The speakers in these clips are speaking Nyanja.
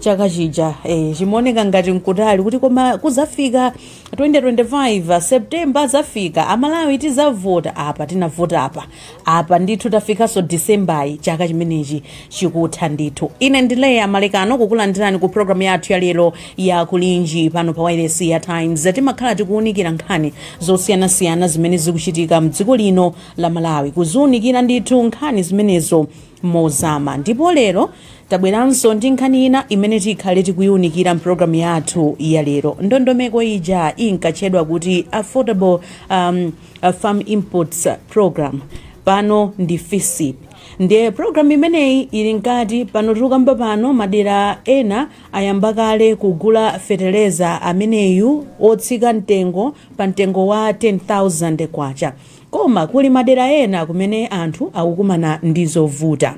chaka chija eh, chimaoneka ngati nkutali kuti koma kuzafika 2025 september azafika amalawi tizavota apa tinavota apa apa ndithu tafikanso disembayi chaka chimenechi chikutha ndithu ine ndine leya malekano kukulandirani ku programu yathu ya lero ya kulinji pano pa wailesi ya times timakhala tikuwunikira nkhani zosiyanasiyana zimene zikuchitika mdziko lino la malawi kuziwunikira ndithu nkhani zimenezo mozama. Ndipo lero tabweranso ndi nkhani ina imene tikhale tikuiunikira mpulogalamu yathu ya lero. Ndondomeko ija inkatchedwa kuti Affordable um, Farm Inputs Program, pano ndi FISIP. Ndiye pulogalamu imeneyi ili mkati pano tikukamba pano, madera ena ayamba kale kugula fetereza ameneyu otsika mtengo pa mtengo wa 10,000 kwacha. Koma kuli madera ena kumene anthu akukumana ndi zovuta.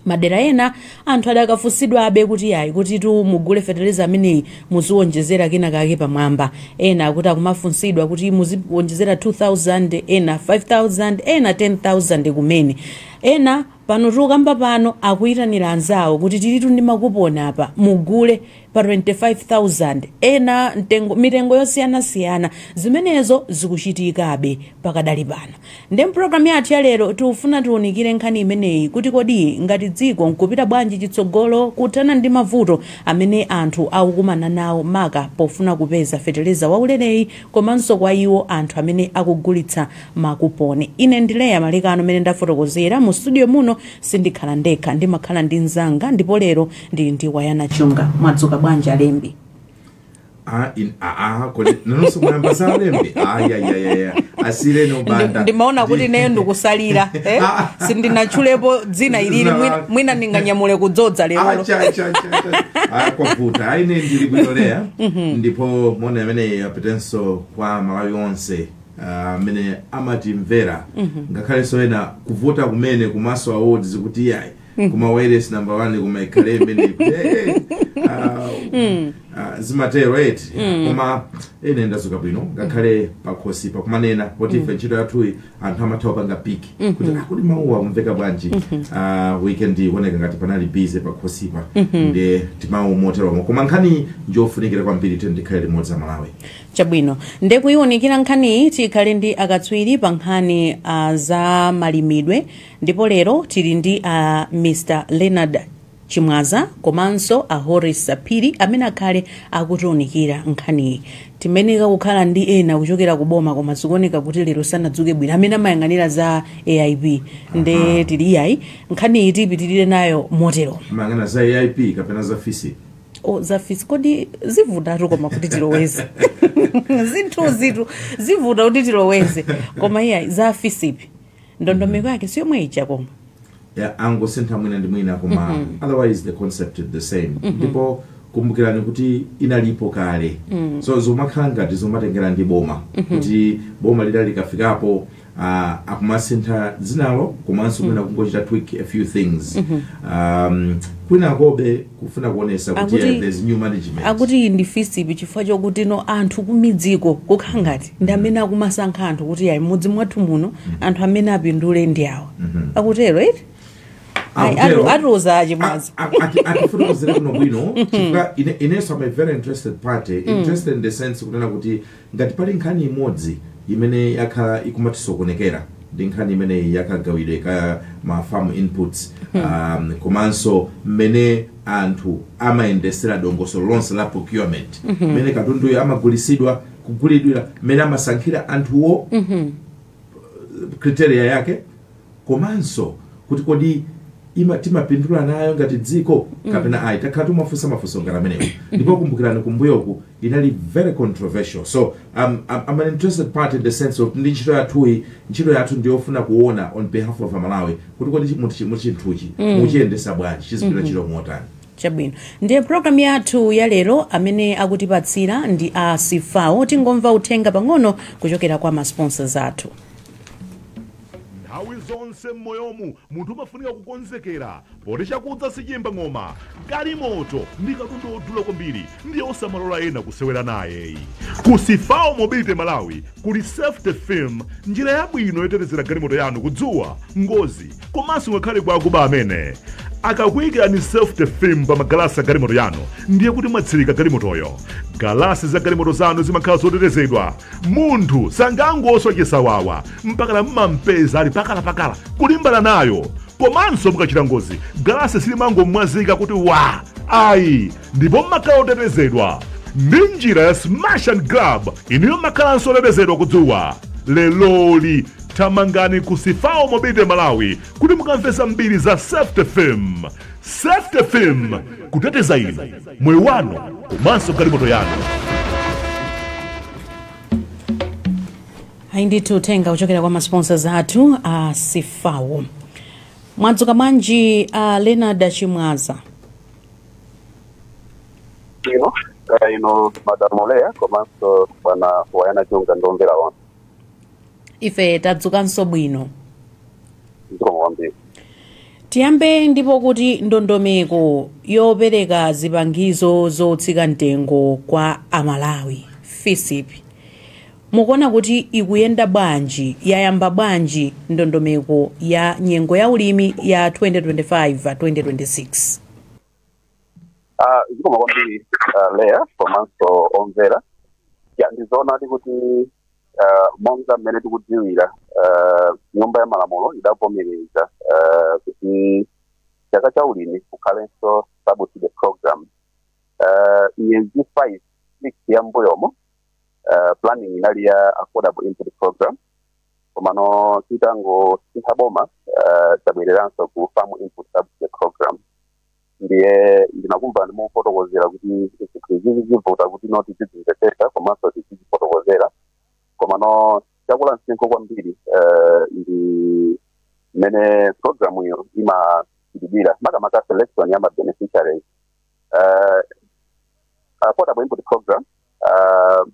Madera ena anthu adakafunsidwabe kuti yayi kutitu mugule fetereza ameneyi muziwonjezera kena kake pamwamba. Ena akuti akumafunsidwa kuti muziwonjezera 2000, ena 5000, ena 10000 kumene. Ena pano tikukamba pano akuitanira anzawo kuti tilitu ndi makuponi apa mugule pa 25,000 ena mtengo, mitengo yosiyanasiyana zimenezo zikuchitikabe pakadali pano ndiye mpulogalamu yathu ya lero tikufuna tiunikire nkhani imeneyi kuti kodi ngati dziko tikupita bwanji chitsogolo kuthana ndi mavuto amene anthu akukumana nawo maka pofuna kupeza feteleza waulereyi komanso kwa iwo anthu amene akugulitsa makuponi ine ndine leya malekano mmene ndafotokozera mu studio muno sindikhala ndekha ndimakhala ndi mzanga ndipo lero Ndili ndi Wanangwa Chunga. Mwadzuka bwanji alembi? Ah, in, ah, ah, kodi nanonso mwayamba za alembi ayayayaya asiyeni abanda ndimaona kuti neyo ndikusalira eh? sindinatchulepo dzina ilili mwina- mwina ndinganyamule kudzodza lero kwavuta aine ndili bwino leya ndipo moni ameneyu apitenso kwa amalawi onse ah, amene amatimvera ngakhalenso ena kuvota kumene ku maso awards kuti iyayi koma wireless number one koma ikhale imene eh, ah, ah, zimatero eti koma ine ndazuka bwino ngakhale pakhosipa kumanena poti ife ntchito yathuyi anthu amatha kupanga piki kuti a kodi mawuwa akumveka bwanji Ah, weekend ikuoneka ngati panali busy pakhosipa ndi timawu moteromo koma nkhani njofunikira kwambiri tiyeni tikhale limodzi amalawi chabwino ndiye kuiwunikira nkhaniyi tikhale ndi akatswiri pa nkhani ah, za malimidwe Ndipo lero tili ndi a Mr Leonard Chimwaza komanso a Horace Phiri amene akhale akutiunikira nkhaniyi. Timayenera kukhala ndi ena kuchokera ku boma koma zikuoneka kuti lero sanadzuke bwino amene amayang'anira za AIP nde tili iyayi nkhaniyi tipitirire nayo motero. Mayang'ana za AIP kapena za FISP? O za FISP kodi zivutatu koma kuti tiloweze zinthuzitu zivuta kuti tiloweze koma iyayi za FISP ndondomeko yake si yomwe ija koma Ya, angosintha mwina ndi mwina koma otherwise the concept is the same ndipo kumbukirani kuti inalipo kale so zomakhala ngati zomatengera ndi boma kuti boma lina likafikapo ah, akumasintha dzinalo komanso mwina kungochita tweak a few things um, kwinakobe kufuna kuonesa kuti Akuti- yeah, there's new management akuti iyi ndi FISP chifukwa chokuti tsopano anthu kumidziko kukhala ngati ndi amene akumasankha anthu kuti ayi m'mudzi mwathu muno anthu amene apindule ndi awa akutero eti Ayi, Akutero. atu- atiuza a Chimwaza A- a- ati- atifotokozere kuno bwino chifukwa ine- inenso am a very interested party interested in the sense kunena kuti Ngati pali nkhani imodzi imene yakhala ikumatisokonekera ndi nkhani imeneyi ya kagawidwe ka ma farm inputs um, komanso mmene anthu amayendesera dongosolo lonse la procurement mmene katunduyo amagulitsidwa kugulidwira mmene amasankhira anthuwo criteria yake komanso kuti kodi timapindula nayo ngati dziko kapena ayi takhala tikufunsa mafunso ngati amenewo ndipo kumbukirani kumbuyoku inali very controversial so I'm, I'm, I'm an interested party in the sense of ndi ntchito yathuyi ntchito yathu ndiyofuna kuona on behalf of amalawi kuti kodi chi- muti chi- muti chinthuchi muchiyendesa bwanji chizipita ntchito motani Chabwino. Ndiye program yathu ya lero amene akutipatsira ndi a Sifao. Tingomva uthenga pang'ono kuchokera kwa ma sponsors athu. Nthawi zonse m'moyomu munthu umafunika kukonzekera poti chakudza sichiyimba ng'oma galimoto ndi katundu wodula kwambiri ndiye osamalola ena kusewera naye ayi. Ku Sifao Mobility Malawi kuli Safety Film, njira yabwino yotetezera galimoto yanu ku dzuwa, ngozi, komanso ngakhale kwa akuba amene. Akakuyikirani Safety Film pa magalasi a galimoto yanu, ndiye kuti mwatsirika galimotoyo. Galasi za galimoto zanu zimakhala zotetezedwa. Munthu sangangoswa chisawawa mpakana mmampeza ali pakalapakala kulimbana nayo. Komanso mukachita ngozi, galasi silimangomwazika kuti wa ayi ndipo mumakhala otetezedwa ndi njira ya smash and grab inuyo mumakhalanso otetezedwa kudzuwa leroli thamangani ku sifawo mobile malawi kuti mukamve zambiri za safety film safety film kuteteza inu moyo wanu komanso galimoto yanu ayi ndithu uthenga kuchokera kwa masponsors athu a sifawo mwadzuka bwanji a leonard chimwaza ino kaya ino madam leya komanso bwana wayana chunga ndi omvera onse ife tadzukanso bwino zikomo kwambiri tiyambe ndipo kuti ndondomeko yopereka zipangizo zotsika mtengo kwa amalawi fisip mukuona kuti ikuyenda bwanji yayamba bwanji ndondomeko ya nyengo ya ulimi ya 2025 2026 Ah, zikomo kwambiri ah, leya komanso omvera ya ndizoonadi kuti ah, monga mmene tikudziwira ah, nyumba ya malamulo idavomereza ah, kuti chaka cha ulimi kukhalenso subsidy program Ah, miyezi 5 6 ya mbuyomo ah, planning inali ya affordable input program komano titangosintha boma eh, tabwereranso ku farm input subsidy program ndiye ndinakumva mukufotokozera kuti zinthu izizi zivuta kuti no tizizimvetsetsa komanso tizizifotokozera komano chakula msinkhu kwambiri eh, ndi mmene program iyo imachitidwira makamaka selection ya mabeneficiaries uh, uh, affordable input program uh,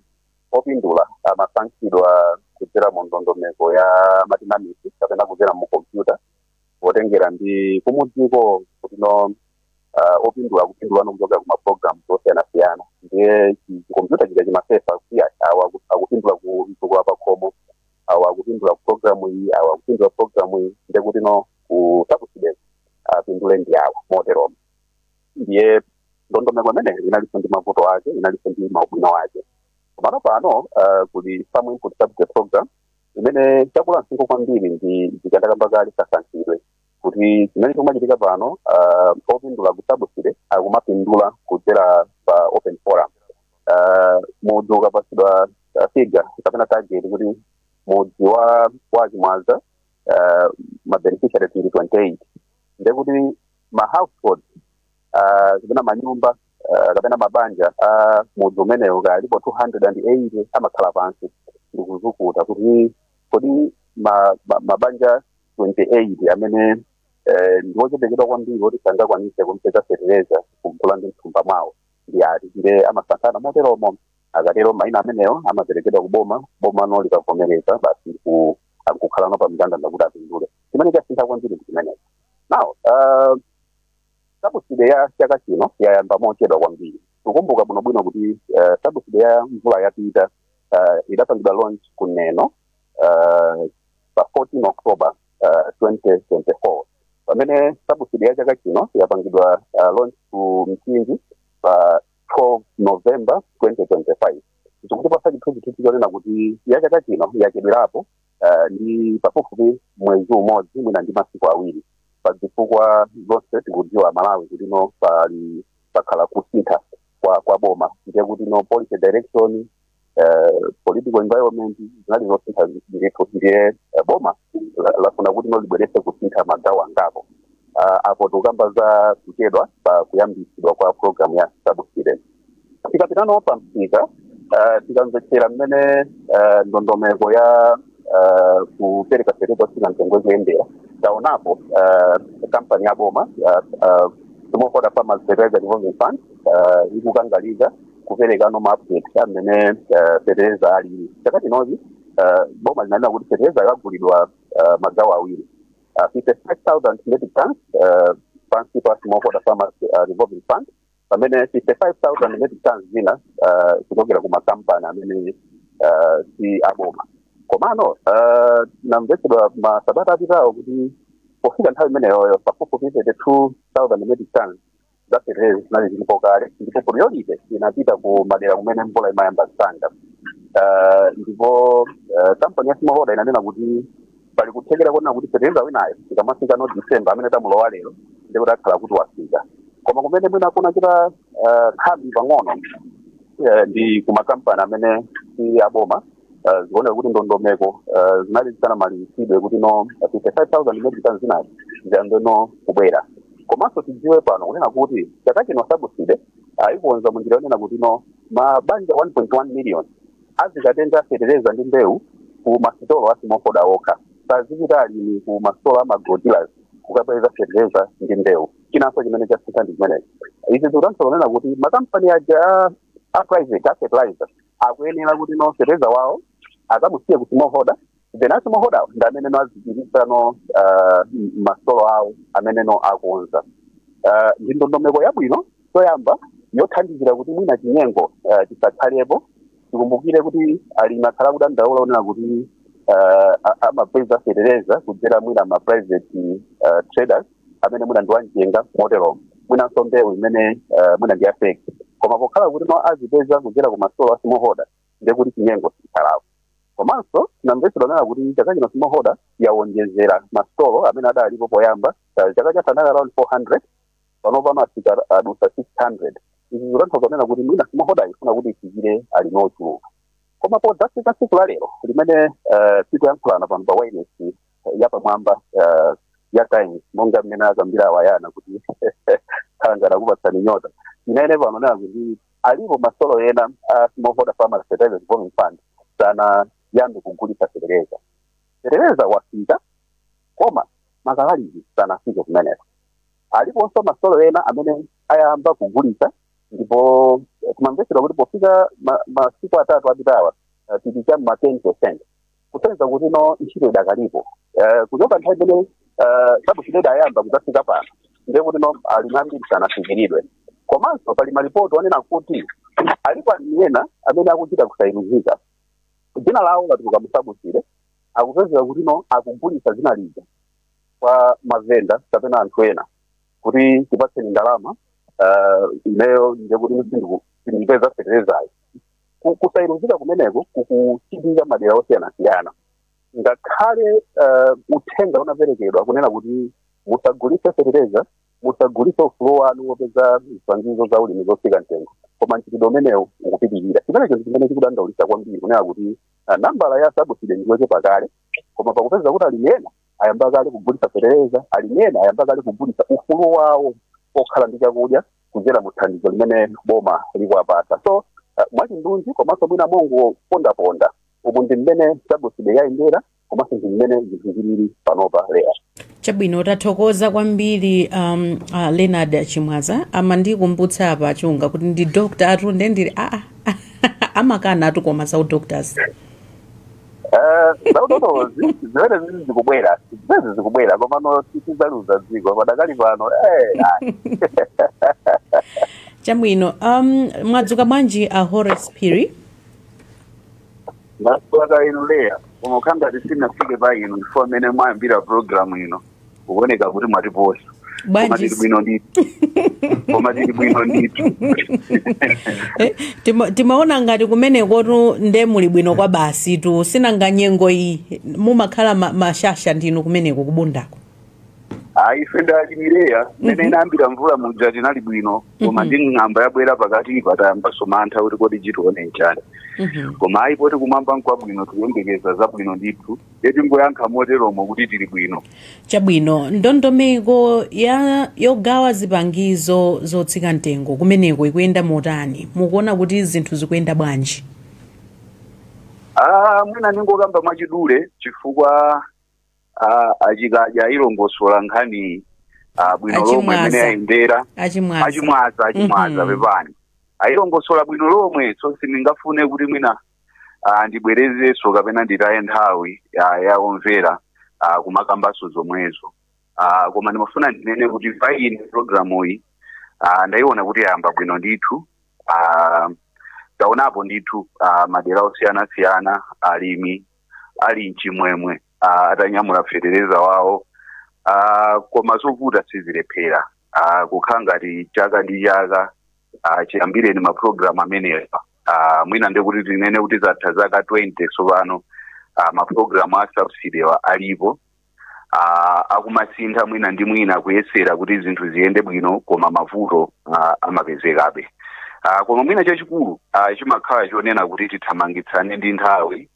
opindula amasankhidwa kudzera mu ndondomeko ya matinamisi kapena kudzera mu kompyuta potengera ndi kumudziko kutino uh, opindula akupindula kuchokera ku mapulogalamu osiyanasiyana ndiye chi- chikompyuta chija chimasefa kuti a- awa aku- akupindula ku mtukula pakhomo awa akupindula ku programu iyi awa akupindula ku programu iyi ndiye kutino ku subsidy-ko apindule ndi awa moteromo ndiye ndondomeko imeneyo inalinso ndi mavuto ake inalinso ndi maubwino ake komano pano uh, kuli farm input subsidy program imene chakula msinkhu kwambiri ndi zimene ndakamba kale kasankhidwe kuti chimene chikumachitika pano uh, opindula ku subsidy akumapindula kudzera pa open forum uh, mudzi ukapatsidwa uh, figure kapena target kuti mudzi wa wa chimwaza uh, mabeneficiary tili 28 ndekuti ma household ah, kapena manyumba ah, kapena mabanja a mudzi umenewo akalipo 280 amakhala pansi ndikuzukuta kuti kodi ma- ma- mabanja 28 amene eh, ndi ochepekedwa kwambiri oti sangakwanise kumpeza fertilizer kumugula ndi mthumba mwawo ndi ati ndiye amasankhana moteromo akatero maina amenewo amaperekedwa kuboma bomano likavomereza basi akukhalano pa mndandanda kuti apindule chimene chasintha kwambiri ndi chimenecho now uh, sabuside ya chaka chino yayamba mochedwa kwambiri tikumbuka bwinobwino kuti uh, sabuside ya mvula yapita uh, idapangidwa launch ku neno uh, pa 14 october uh, 2024 pamene sabuside ya chaka chino yapangidwa uh, launch ku mchinji pa 12 november 2025 zikutipatsa chithunzithunzi chonena kuti ya chaka chino yachedwerapo uh, ndi pafupifupi mwezi umodzi mwina ndi masiku awiri pa zifukwa zonse tikudziwa amalawi kutino pali pakhala kusintha kwa, kwa boma ndiye kutino policy direction uh, political environment zinali zosintha ndithu ndiye uh, boma la- lafuna kutino libweretse kusintha magawo angapo uh, apo tikukamba za kuchedwa pa kuyambitsidwa kwa programu ya subsidy tikapitano pa msika eh, tikamvetsera mmene eh, ndondomeko ya eh, kupereka fetereza wotsika mtengo ikuyendera taonapo eh, kampani ya boma ya, eh, smallholder farmers fertilizer revolving fund eh, ikukangalika kuperekano maupdate a mmene eh, fetereza alili chaka chinochi eh, boma linanena kuti fetereza agulidwa eh, magawo awiri uh, 55,000 metric tons uh, pansi pa smallholder farmers uh, revolving fund pamene 55,000 metric tons zina ah, kuchokera ku makampani amene ah, si aboma komano ah, zinamvetsedwa masabata apitawo kuti pofika nthawi imeneyoyo pafupifupi 32,000 metric tons za fertilizer zinali zilipo kale ndipo priority inapita ku madera kumene mvula imayamba msanga Ah, ndipo ah, kampani ya smallholder inanena kuti pali kuthekera kunena kuti fertilizer winayo tikamafika no december amene tamulowa lero ndi kuti akhala kuti wafika koma kumene mwina kunachita eh, khambi pang'ono eh, ndi kumakampani amene si aboma eh, zikuoneka kuti ndondomeko eh, zinali zisanamalizitsidwe kuti no 55000 metric tons zinazi ziyambe no kubwera komanso tidziwe pano kunena kuti chaka chino sabuside aikonza munjira yonena kuti no mabanja 1.1 million Adzikatenga fetereza ndi mbewu ku masitolo a Smallholder okha. Sazipita alimi ku masitolo a ma agro dealers kukapeza fetereza ndi mbewu. Chinanso chimene chasintha ndi chimenechi. Izi zikutanthauza kunena kuti makampani aja a private a fertilizer akuyenera kuti no fetereza wawo akamusiye ku Smallholder then a smallholderwo ndi amene no azigulitsa no uh, m'masitolo awo amene no akonza uh, ndi ndondomeko yabwino choyamba yothandizira kuti mwina chinyengo uh, chisakhalepo tikumbukire kuti alimi akhala akudandaula kunena kuti uh, a- amapeza fetereza kudzera mwina ma private uh, traders amene mwina ndi wamchenga moteromo mwinanso mbewu imene uh, mwina ndi ya fake koma pokhala kuti no azipeza kudzera ku masitolo a smallholder ndiye kuti chinyengo sichikhalako komanso tinamvetsedwa kunena kuti chaka chino smallholder yawonjezera masitolo amene adalipo poyamba eh, chaka chatha anali around 400 panopa afika adusa 600 izi zikutanthauza kunena kuti mwina smallholder ikufuna kuti ifikire alimi ochuluka koma podzafika tsiku la lero limene eh, tikuyankhulana pano pa wailesi yapamwamba eh, ya times monga mmene akambira awayana kuti khangana kupatsani nyota imene pano nakuti alipo masitolo ena a smallholder farmers fertilizer revolving fund sanayambe kugulitsa fetereza fetereza wafika koma makalaliki sanafike kumeneko aliponso masitolo ena amene ayamba kugulitsa ndipo eh, kumamvetsedwa kuti pofika ma- masiku atatu apitawa eh, tili cha ma 10 percent kusonyeza kuti no ntchito idakalipo Eh, kuchoka nthawi imene eh, sabuside idayamba kudzafika pano ndiye kuti no alimi ambiri sanafikiridwe komanso pali malipoti onena kuti alipo alimi ena amene akuchita kusayeruzika dzina lawo latuluka musabuside akupezeka kuti no akugulitsa dzina lija kwa mavenda kapena anthu ena kuti tipatseni ndalama eh, ineyo ndiye kuti sindikupeza feterezayo Ku- kusayeruzika kumeneko kukuchitika madera osiyanasiyana ngakhale eh, uthenga unaperekedwa kunena kuti musagulitse fetereza musagulitse ufulu wanu wopeza zipangizo za ulimi zotsika mtengo koma mchitidwe umenewu ukupitirira chimenecho ndi chimene chikudandaulitsa kwambiri kunena kuti ah, nambala ya sabuside ndiyochepa kale koma pakupeza kuti alimi ena ayamba kale kugulitsa fetereza alimi ena ayamba kale kugulitsa ufulu wawo okhala ndi chakudya kudzera mu thandizo limene boma likuwapatsa so uh, mwachindunji komanso mwina mongopondaponda umu ndi mmene sabuside yayendera komanso ndi mmene zinthu zilili panopa lero chabwino tathokoza kwambiri um, uh, leonard chimwaza amandikumbutsa apa achunga kuti ndi doctor atunde ndili aa amakanatu koma za udoctors za udotolozi zimenezi zikubwera zimenezi zikubwera komano tidzaliuza dziko padakali pano eh, ayi. chabwino um, mwadzuka bwanji a horace phiri ndadzuka kaya inu leya koma ukhala ngati sinafike pa inu chifukwa mmene mwayambira programu ino kukuoneka kuti mwatiposa koma bwanji tili bwino ndithu koma tili bwino ndithu Eh, tima- timaona ngati kumenekotu nde muli bwino kwabasitu sinanga nyengo iyi mumakhala ma- mashasha ndinu kumeneko kubundako ayi ife ndi alimi eya mene inayambira mvula muja tinali bwino koma ndi ng'amba yabwera pakatipa tayambanso mantha kuti kodi chitione nchani koma ayi poti kumwamba nkwabwino tikuyembekeza zabwino ndithu ndiye tingoyankha moteromo kuti tili bwino chabwino ndondomeko ya yogawa zipangizo zotsika mtengo kumeneko ikuyenda motani mukuona kuti zinthu zikuyenda bwanji Ah, mwina ndingokamba mwachidule chifukwa ah, a Chikadya ayilongosola nkhani ah, bwino lomwe A Chimwaza. mmene ayendera a Chimwaza a Chimwaza a Chimwaza Mhm. pepani ayilongosola bwino lomwe so sindingafune kuti mwina ah, ndibwerezenso kapena nditaye nthawi ah, ya omvera ah, kumakambanso zomwezo ah, koma ndimafuna ndinene kuti pa ine programu iyi ah, ndayiona kuti yayamba bwino ndithu ah, taonapo ndithu ah, madera osiyanasiyana alimi ali mchimwemwe ah, atanyamula fetereza wawo ah, koma zovuta sizilephera ah, kukhala ngati chaka ndi chaka ah, chiyambireni mapulogalamu amenewa ah, mwina ndi kuti tinene kuti zatha zaka 20 tsopano ah, mapulogalamu a subsidy-wa alipo ah, akumasintha mwina ndi mwina kuyesera kuti zinthu ziyende bwino koma mavuto ah, amapezekabe Ah, koma mwina chachikulu ah, chimakhala chonena kuti tithamangitsane ndi nthawi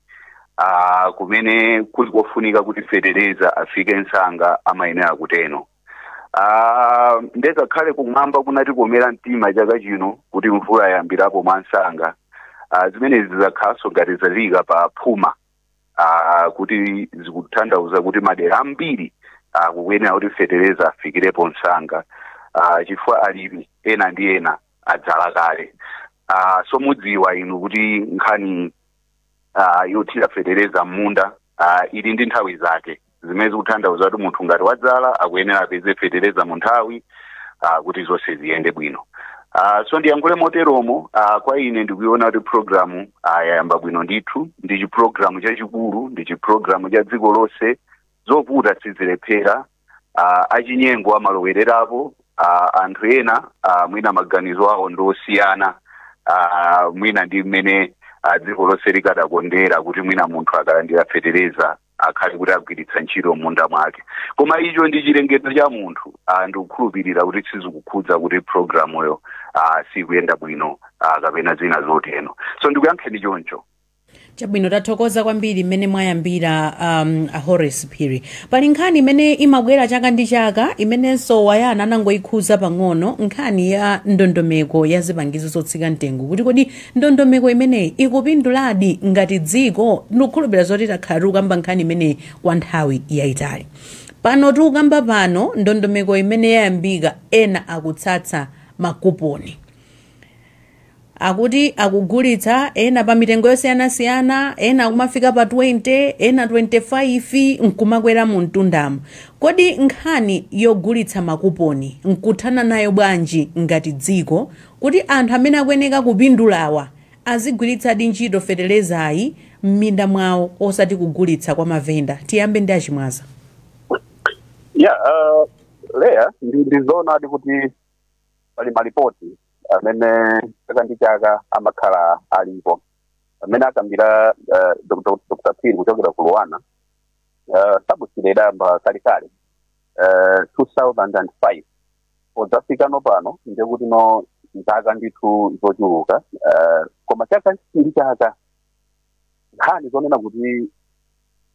ah, kumene kuli kofunika kuti fetereza afike msanga amayenera kuteno Ah, nde kakhale kumwamba kunatikomera mtima chaka chino kuti mvula yayambirapo mwamsanga ah, zimene zizakhalanso ngati zalika pa phuma ah, kuti zikutanthauza kuti madera ambiri ah, kukuyenera kuti fetereza afikirepo msanga ah, chifukwa alimi ena ndi ena adzala kale ah, so mudziwa inu kuti nkhani ah, yothira fetereza m'munda ah, ili ndi nthawi zake zimene zikuthandauza kuti munthu ngati wadzala akuyenera apeze fetereza mu nthawi ah, kuti zonse ziyende bwino ah, so ndiyankhule moteromo ah, kwa ine ndikuiona kuti programu ah, yayamba bwino ndithu ndi chipulogalamu chachikulu ndi chipulogalamu cha dziko lonse zovuta sizilephera uh, achinyengo amalowererapo uh, anthu ena uh, mwina maganizo awo ndi osiyana uh, mwina ndi mmene uh, dziko lonse likadakondera kuti mwina munthu akalandira fetereza akhale kuti agwiritsa ntchito m'munda mwake koma icho ndi chilengedwe cha munthu uh, ndikukhulupirira kuti sizikukhudza kuti programuyo uh, sikuyenda bwino uh, kapena zina zoteno so ndikuyankheni choncho chabwino tathokoza kwambiri mmene mwayambira um, a horace phiri pali nkhani imene imabwera chaka ndi chaka imenenso awayana anangoyikhuza pang'ono nkhani ya ndondomeko ya zipangizo zotsika mtengo kuti kodi ndondomeko imeneyi ikupinduladi ngati dziko ndikukhulupirira zoti takhala tikukamba nkhani imeneyi kwa nthawi yayitali pano tikukamba pano ndondomeko imene yayambika ena akutsatsa makuponi Akuti akugulitsa ena pa mitengo yosiyanasiyana, ena akumafika pa 20, ena 25 n'kumakwera mu mtundamo. Kodi nkhani yogulitsa makuponi n'kuthana nayo bwanji ngati dziko kuti anthu amene akuyeneka kupindulawa azigwiritsadi ntchito fetelezayi m'minda mwawo osati kugulitsa kwa mavenda? Tiyambe ndi a Chimwaza. Yeah, uh, Leah, ndi, ndi zoonadi kuti pali malipoti amene chaka ndi chaka amakhala alipo amene akambira eh, Dr. Dr. Phiri kuchokera ku Luanar eh, sabuside idayamba kalekale eh, 2005 podzafikano pano ndiye kutino zaka ndithu zochuluka eh, koma chaka ndi chaka nkhani zonena kuti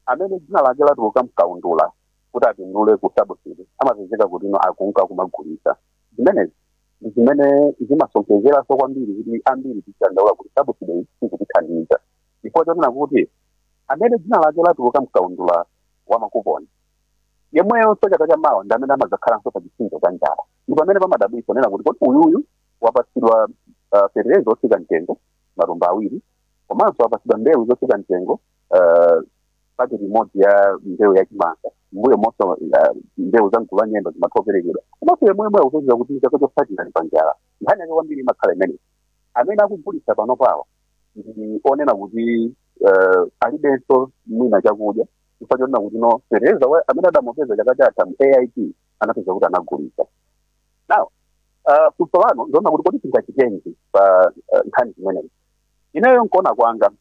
amene dzina lake latuluka mkaundula kuti apindule ku sabusidi amapezeka kutino akunka kumagulisa zimenezi ndi zimene zimasonkhezeranso kwambiri kuti ambiri tidandaula kuti sabusidi iyi sikutithandiza chifukwa chonena kuti amene dzina lake latuluka mkaundula wa makuponi yemweyonso chaka cha mawa ndi amene amadzakhalanso pa chipsinjo cha njala ndi pamene pamadabwitsa nena kuti kodi uyuyu wapatsidwa uh, fertilizer zotsika mtengo matumba awiri komanso wapatsidwa mbewu zotsika mtengo uh, paketi imodzi ya mbewu ya chimanga mbuyo monso uh, mbewu za mgulu la nyemba zimathoperekedwa komanso yemweyo akupezeka kuti chaka chotsatira ali panjala nkhani yake kwambiri imakhala imeneyi amene akugulitsa panopawo ndi yonena kuti uh, alibenso mwina chakudya chifukwa chonena kutino fetereza wa- amene adamupeza chaka chatha mu AIP anapezeka kuti anagulitsa now uh, funso lano ndi lonena kuti kodi tingachitenji pa uh, nkhani zimenezi ineyo nkuona kwanga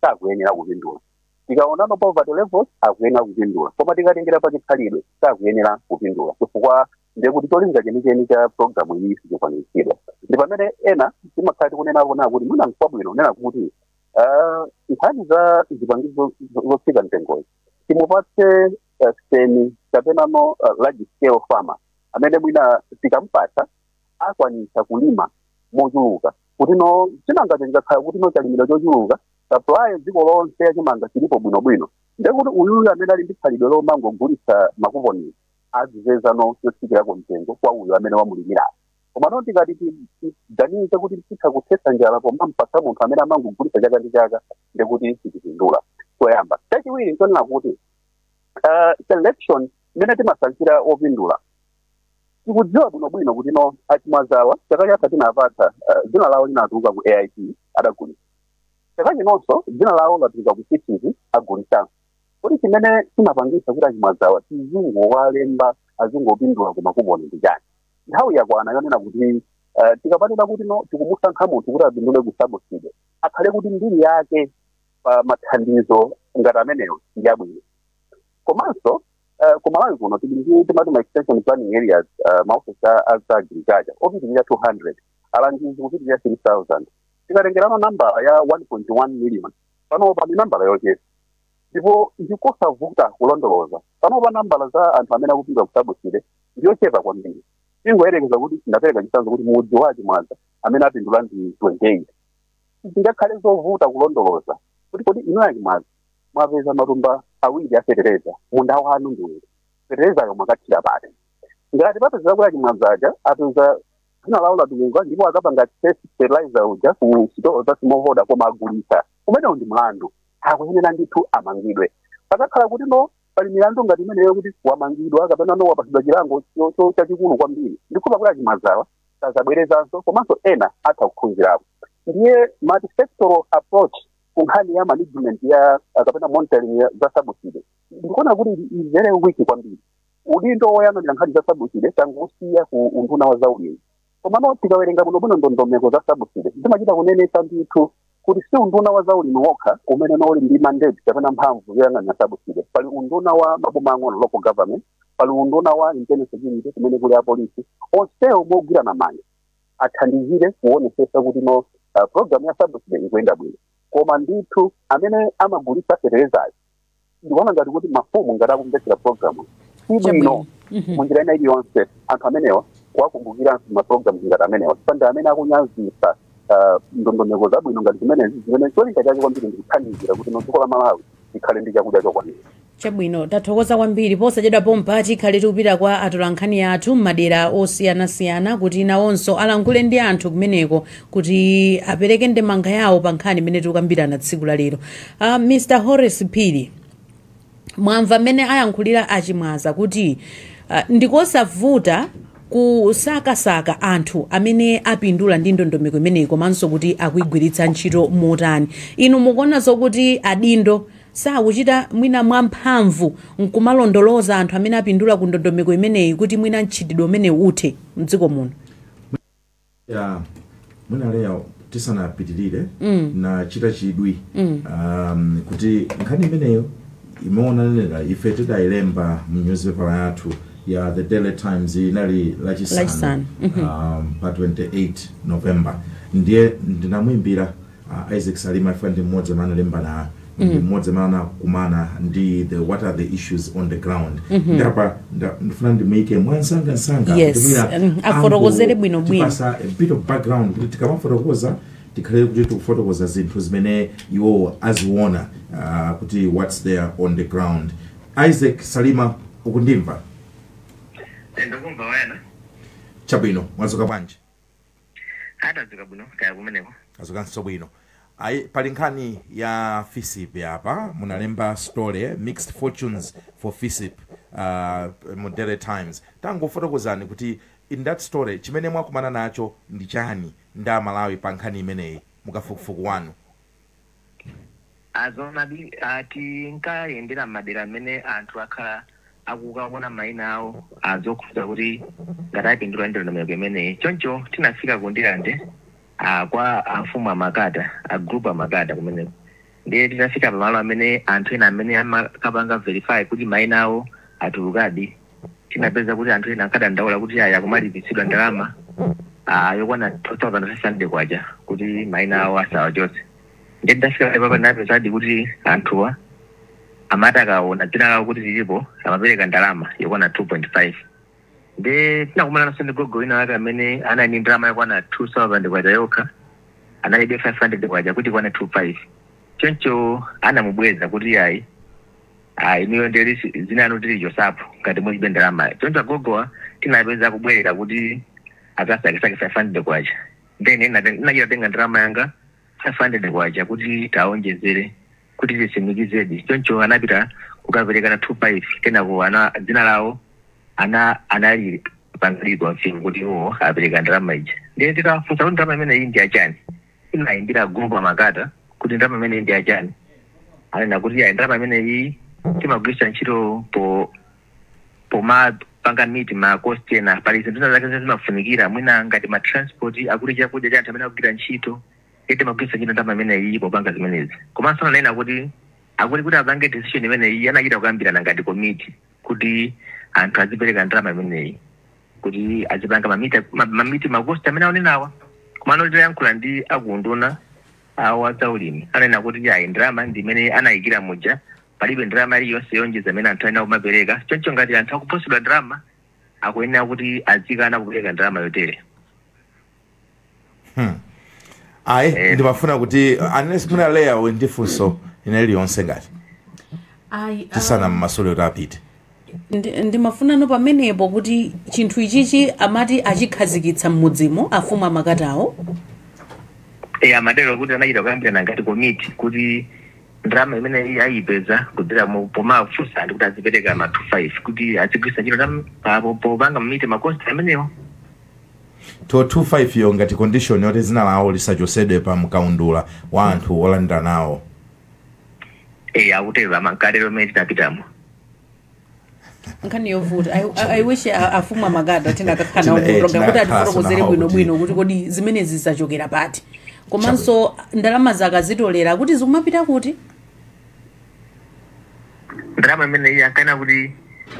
sakuyenera kupindula tikaonano poverty levels akuyenera kupindula koma tikatengera pa chikhalidwe sakuyenera kupindula chifukwa ndekuti cholinga chenicheni cha programu iyi sichikwaniritsidwa ndi pamene ena timakhala tikunenapo nena kuti mwina nkwabwino kunena kuti ah, nkhani za zipangizo zo- zotsika mtengoyi timupatse eh, semi kapenano eh, large scale farmer amene mwina tikampatsa akwanitsa kulima mochuluka kutino chimangacho chikakhala kutino chalimidwa chochuluka supply dziko lonse ya chimanga chilipo bwinobwino ndekuti uyuyu amene ali ndi khalidwe lomangogulitsa makuponi azipezano yotsikirako mtengo kwa uyo amene wamulimirayo komano tikati tiganize kuti titha kuthetsa njala pomampatsa munthu amene amangogulitsa chaka ndi chaka ndekuti sitipindula choyamba chachiwiri nchonena kuti uh, selection imene timasankhira opindula tikudziwa bwinobwino kuti no achimwazawa chaka chatha tinapatsa eh, dzina lawo linatuluka ku AIP adagulitsa chaka chinonso dzina lawo latuluka ku AIP agulitsanso kodi chimene chinapangitsa kuti achimwazawa tizingowalemba azingopindula ku makuponi ndi chani nthawi yakwana yonena kuti eh, tikamanena kuti no tikumusankha munthu kuti apindule ku subsidy akhale kuti mbiri yake pa mathandizo ngati amenewo ndi abwino komanso eh, ku malawi kuno tili ndi timati ma extension planning areas eh, maofesi a a za agriculture opitirira 200 alangizi kupitirira 3000 tikatengerano nambala ya 1.1 million panopa ndi nambala yochepa ndipo ndikosavuta kulondoloza panopa nambala za anthu amene akupindula ku subsidy ndiyochepa kwambiri tingoyerekeza kuti ndapereka chitsanzo kuti mudzi wa achimwaza amene apindula ndi 28 zingakhale zovuta kulondoloza kuti kodi inuyo achimwaza mwapeza matumba awiri a fetereza munda wanu ndi uti feterezayo mwakathira pati ngati papezeka kuti achimwazaja apeza dzina lawo latuluka ndipo akapanga test fertilizer uja ku sitolo za smallholder koma agulitsa umenewo ndi mlandu akuyenera ndithu amangidwe pakakhala kuti no pali milandu ngati imeneyo kuti wamangidwa kapena no wapatsidwa chilango cho- cho- chachikulu kwambiri ndikukhulupira kuti achimwazawa sadzabwerezanso komanso ena atha kuphunzirapo ndiye multisectoral approach ku nkhani ya management ya ah, kapena monitoring ya- za subsidy ndikuona kuti ili- ili very weak kwambiri udindo woyang'anira nkhani za subsidy tangosiya ku unduna wa zaulimi komano tikawerenga bwinobwino ndondomeko za subsidy zimachita kunenetsa ndithu kuti si unduna wa zaulimi wokha umene uli ndi mandate kapena mphamvu yoyang'anira subsidy pali unduna wa maboma ang'ono local government pali unduna wa internal security kumene kuli apolisi onsewo mogwirana manja athandizire kuonetsetsa kuti no uh, program ya subsidy ikuyenda bwino koma ndithu amene amagulitsa feterezayo ndikuona ngati kuti mafumu ngati akumvetsera programuyi bwino munjira ina iliyonse anthu amenewa kuwakumbukiranso maprogram ngati amenewa sipanda amene akunyazitsa uh, ndondomeko zabwino ngati zimenezi zimene cholinga chake kwambiri ndikuthandizira kuti no dziko la malawi likhale ndi chakudya chokwanira chabwino tathokoza kwambiri posachedwa pompa tikhale tikupita kwa atolankhani athu m'madera osiyanasiyana kuti nawonso alankhule ndi anthu kumeneko kuti apereke ndemanga yawo pa nkhani imene tikukambirana tsiku la lero uh, mr horace phiri mwamva mmene ayankhulira achimwaza kuti uh, ndikosavuta kusakasaka anthu amene apindula ndi ndondomeko imeneyi komanso kuti akuigwiritsa ntchito motani inu mukuona zokuti adindo sakuchita mwina mwamphamvu nkumalondoloza anthu amene apindula ku ndondomeko imeneyi kuti mwina mchitidwe umenewu uthe mdziko muno ya mwina Leo tisanapitirire Mm. nachita chidwi Mm. um, kuti nkhani imeneyo ndimaonanira ife tidayilemba mu newspaper yathu ya the daily times inali Lachisanu. lachisanu um, pa 28 november ndiye ndinamuimbira Isaac Salima chifukwa ndi mmodzi amene analemba nayo ndi mmodzi amene anakumana ndi what are the issues on the ground ndiye apa nda- ndifuna ndimuyike mwansanga nsanga Yes, kuti mwina mm, afotokozere ango- bwino bwino. tipasa a bit of background kuti tikamafotokoza tikhale kuti tikufotokoza zinthu zimene iwo aziona ah, kuti what's there on the ground isaac salima ukundimva ndikumva wena chabwino mwazuka bwanji tadzuka bwino kaya kumeneko azukanso bwino ayi pali nkhani ya fisip apa munalemba story mixed fortunes for fisip uh, mu daily times tangofotokozani kuti in that story chimene mwakumana nacho ndi chani ndi amalawi pa nkhani imeneyi mukafukufuku wanu A Zoonadi a tinkayendera m'madera m'mene anthu akhala akukaona maina awo a zokhudza kuti ngati atapindula ndi ndondomeko imeneyi. Choncho tinafika ku Ndirande a kwa amfumu a Makata, a group a Makata kumeneko. Ndiye titafika pamalo amene anthu ena amene amakapanga verify kuti maina awo atulukadi, tinapeza kuti anthu ena ankadandaula kuti ayi akumalipitsidwa ndalama ah, yokwana 2500 kwacha kuti maina awo asawachotse nde ndinafika apa ndinapezadi kuti anthuwa amati akaona dzina lawo kuti lilipo amapereka ndalama yokwana 2.5 nde tinakumananso ndi gogo wina wake amene anali ndi ndalama yokwana 2000 kwacha yokha analibe 500 kwacha kuti ikwane 25 choncho anamubweza kuti ayi Ah, inuyo ndiye kuti dzina lanu tilichotsapo ngati mulibe ndalama choncho agogowa tinawapeza akubwerera kuti akasakesake 500 kwacha then inate- ndinachita kutenga ndalama yanga 500 kwacha kuti tiwaonjezere kuti tisimikizedi choncho anapita kukaperekano 25 kenako ana dzina lawo ana analipanga confirm kuti iwo apereka ndalama ija ndiye titafunsa kuti ndalama imeneyi ndi yachani Tinaimbira group a Makata kuti ndalama imeneyi ndi yachani. Anena kuti yayi ndalama imeneyi timagwiritsa ntchito po pomapanga meet ma cost ena. Pali zinthu zina zake zimene zimafunikira mwina ngati ma transport akuti chakudya cha anthu amene akugwira ntchito. Ndiye timagwiritsa ntchito ndalama imeneyi popanga zimenezi. Komanso ananena kuti akuti kuti apange decision imeneyi anachita kukambirana ngati komiti kuti anthu azipereka ndalama imeneyi. kuti azipanga mamita ma- mamiti makosti amene akunenawa komano titayankhula ndi akuunduna wa zaulimi ananena kuti ayi ndalama ndi imene anayikira muja palibe ndalama iliyonse yoonjeza imene anthu ayenera kumapereka choncho ngati anthu akuopsezedwa ndalama akuyenera kuti azikana kupereka ndalama yotere hmm. ayi eh. ndimafuna kuti unless muna leya ndi funso lina lililonse ngati um, tisanammasule kuti apite ndimafunanso pamenepo kuti chinthu ichichi amati achikhazikitsa mmudzimo afumu amakatawo e amatero kuti anachita kukambirana ngati komiti kuti ndalama imene ayipeza kudzera pomafunsa anthu kuti azipereka ma 25 kuti azigwiritsa ntchito popanga mamiti makosti amenewo 225 yo ngati condition yoti dzina lawo lisachosedwe pa mkaundula wa anthu olandira nawo eh akutero amangale komwe tinapitamo nkhani yovuta I- I- i wish a- afumu amakata tinakakhala nawo Tina- eh, muprogram kuti tinakakhala atifotokozere nawo bwino kuti- bwino kuti kodi zimenezi zachokera pati komanso ndalama zakazitolera kuti zikumapita kuti ndalama imene iyi ankanena kuti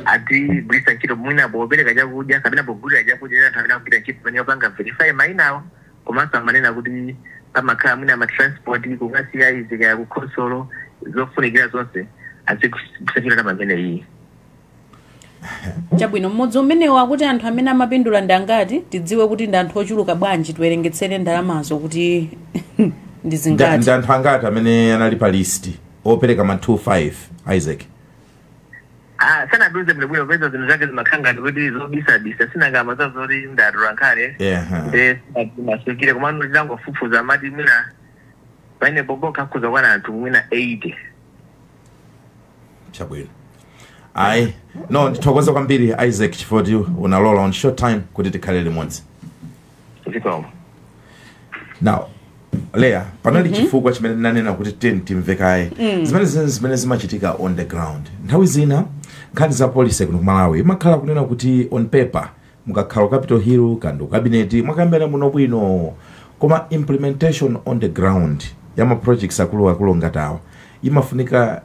adzigwiritsa ntchito mwina popereka chakudya kapena pogulira chakudya cha anthu amene akugwira ntchito pamenepo yopanga verify mayina awo komanso amanena kuti pamakhala mwina matransport kukasiya izi kaya kukhonsolo zofunikira zonse azigwiritsa ntchito ndalama imene iyi chabwino mmudzi umenewo akuti anthu amene amapindula ndi angati tidziwe kuti ndi anthu ochuluka bwanji tiwerengetsere ndalamazo kuti ndi Nda- zingati ndi anthu angati amene anali pa list opereka ma 25 isaac Ah, sanatiuze bwinobwino poti zinthu zake zimakhala ngati kuti zobisabisa sinangama za zoti ndatola nkhani Ehe. nde masukire komano titangofufuza amati mwina pamene pompoka akhoza kukwana anthu mwina 80 chabwino ayi no ndithokoza kwambiri isaac chifukwa kuti unalola on short time kuti tikhale limodzi zikomo now leya panali chifukwa chimene ndinanena kuti tiyeni timve kaye zimene zi zimene zimachitika on the ground nthawi zina nkhani za policy kuno ku malawi imakhala kunena kuti on paper Mukakhala ku capital hill kaya ndi ku cabinet mwakambirana bwino bwino koma implementation on the ground ya ma projects akulu akulu ngati awa imafunika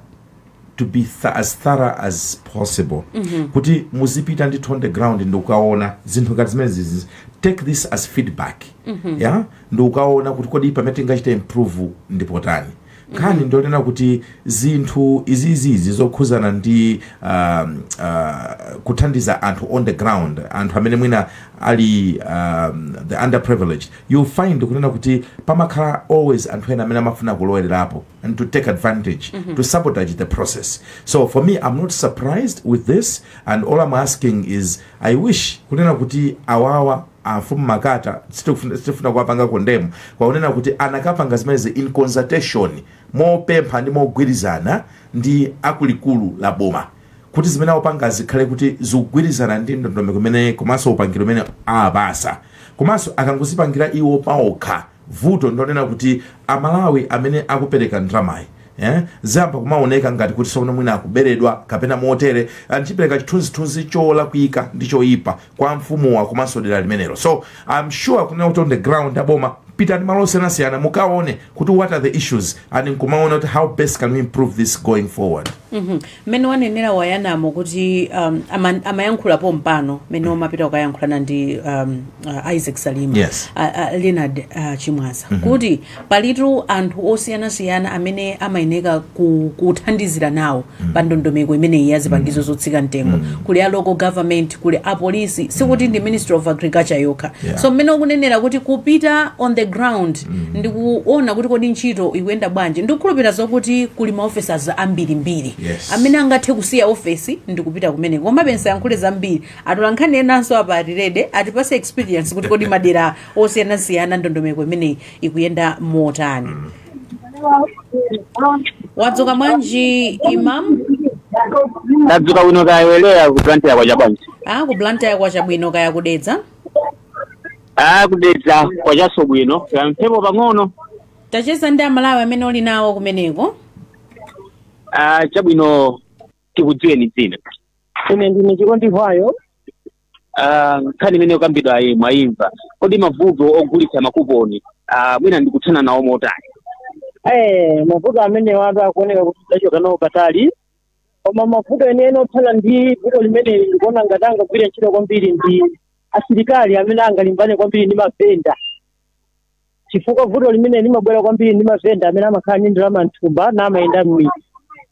to be th as thorough as possible mm -hmm. kuti muzipita ndithu on the ground ndi kukaona zinthu ngati zimenezizi take this as feedback mm -hmm. yeah? ndi kukaona kuti kodi pamene tingachita improve ndi potani nkhani ndiyonena kuti zinthu izizizi zokhudzana ndi um, uh, kuthandiza anthu on the ground anthu amene mwina ali um, the underprivileged you find kunena kuti pamakhala always anthu ena amene amafuna kulowererapo and to take advantage mm -hmm. to sabotage the process so for me i'm not surprised with this and all i'm asking is i wish kunena kuti awawa amfumu makata sitikufuna sitifuna kuwapanga condemn kwakunena kuti akanapanga zimenezi in consultation mopempha ndi mogwirizana ndi akuluakulu a boma kuti zimene akupanga zikhale kuti zikugwirizana ndi ndondomeko imene komanso upangiro umene awapatsa osati kumangozipangira iwo paokha vuto ndi lonena kuti amalawi amene akupereka ndalamayi eh, ziziyamba kumaoneka ngati kuti sono mwina akuberedwa kapena motere ndikupereka chithunzithunzi cholakwika ndi choyipa kwa mfumuwa komanso dera limenero so i'm sure kunena kuti on the ground aboma pitani malo osiyanasiyana mukaone kuti what are the issues and nkumaona kuti how best can we improve this going forward mm -hmm. mmene wanenera wayana kuti um, ama, amayankhula pompano mmene umapita kukayankhulana ndi um, uh, isaac salima Yes. uh, uh, leonard uh, chimwaza kuti palitu anthu osiyanasiyana amene amayeneka ku, kuthandizira nawo pa ndondomeko imeneyi ya zipangizo zotsika mtengo kuli a local government kuli a polisi sikuti ndi ministry of agriculture yokha Yeah. so mmene ukunenera kuti kupita on the ground ndikuona kuti kodi ntchito ikuyenda bwanji ndikukhulupirira zokuti kuli maofesas ambirimbiri Yes. amene angathe kusiya ofesi ndikupita kumeneko komabe nsayankhule zambiri atola nkhani enanso apa ali ready atipatse experience kuti kodi madera osiyanasiyana ndondomeko imeneyi ikuyenda motani wadzuka bwanji imam tadzuka bwino kaya inu ku blantyre kwacha bwanji a ku blantyre kwacha bwino kaya ku dedza Ah, ku dedza kwachanso bwino kamphepo pang'ono tacheza ndi amalawi amene uli nawo kumeneko ah, chabwino tikudziweni dzina ine ndine chikondi hwayo Ah, nkhani imene ikukambidwayi mwayimva kodi mavuto ogulitsa makuponi ah, mwina tingathane nawo motani eh mavuto amenewatu akuoneka kuti tachoka nawo patali koma mavuto enieni othana ndi vuto limeneli ndikuona ngati angagwire ntchito kwambiri ndi asilikali amene angalimbane kwambiri ndi mavenda chifukwa vuto limeneli limabwera kwambiri ndi mavenda amene amakhala ndi ndalama mthumba n'kumayenda mmidzi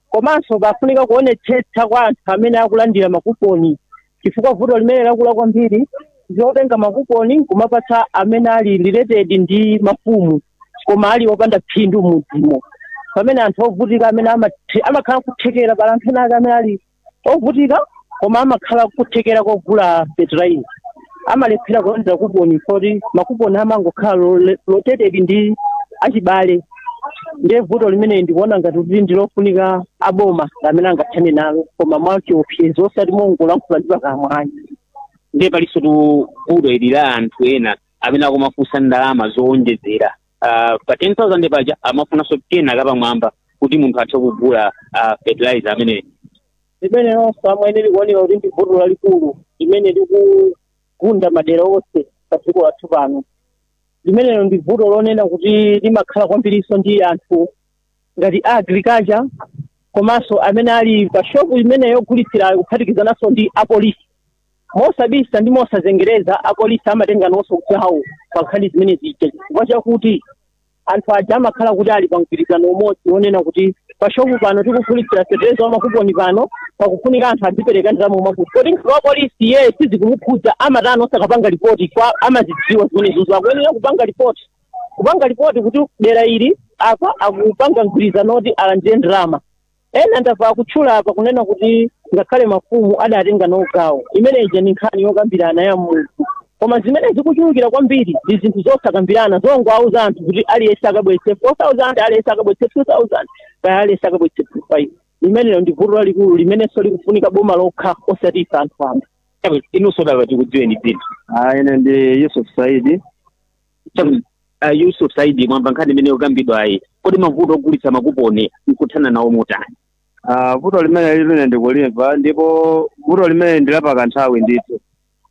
komanso pafunika kuonetsetsa kwa anthu amene akulandira makuponi chifukwa vuto limene lakula kwambiri ndi lotenga makuponi kumapatsa amene ali related ndi mafumu koma ali opanda phindu mmudzimo pamene anthu ovutika amene amathe- amakhala kuthekera pali anthu ena ake amene ali ovutika koma amakhala kuthekera kogula fertilizer amalephera kulandira kuponi moti makuponi amangokhala lole- rotated ndi achibale ndiye vuto limeneyi ndikuona ngati kuti ndilofunika aboma amene angathane nalo koma mwachiopsezo osati mongolankhula ndi pakamwa ayi ndiye palinso tu vuto ili la anthu ena amene akumafunsa ndalama zowonjezera Ah, pa 10000 paja amafunanso kena kapamwamba kuti munthu athe kugula ah, fertilizer ameneyu limene lonse amwene likuoneka kuti ndi vuto lalikulu limene likugunda madera onse pa dziko lathu pano limenelo ndi vuto lonena kuti limakhala kwambirinso ndi anthu ngati a agriculture komanso amene ali pa shopu imene yogulitsirayo kuphatikizananso ndi apolisi mosabisa ndi mosazengereza apolisi amatenganso gawo pa nkhani zimene zija chifukwa chakuti anthu aja amakhala kuti ali pa mgwirizano umodzi wonena kuti pashopu pano tikugulitsira fetereza wamakuponi pano pakufunika anthu adzipereka ndalama mwakuti kodi mkulu wa polisi iye sizikumukhudza amatani osakapanga lipoti kwa amazidziwa zimenezozo akuyenera kupanga lipoti kupanga lipoti kuti dera ili apa akupanga mgwirizano woti alandire ndalama ena ndamva akutchula apa kunena kuti ngakhale mafumu adatenga nawo gawo imeneyi ndi nkhani yokambirana ya munthu Koma zimene zikuchulukira kwambiri ndi zinthu zosakambirana, zongowauza anthu kuti aliyense akabweretse 4,000, aliyense akabweretse 2,000, kaya aliyense akabweretse 5. Limenelo ndi vuto lalikulu limenenso likufunika boma lokha osati ife anthu wamba. Chabwino, inunso tadza tikudziweni dzina. Ah, ine ndi Yusuf Saidi. Chabwino, ah, Yusuf Saidi mwamva nkhani imene yokambidwayi. Kodi mavuto ogulitsa makuponi nkuthana nawo motani? Ah, vuto limene lili ine ndikulimva ndipo vuto limene ndi lapakanthawi ndithu.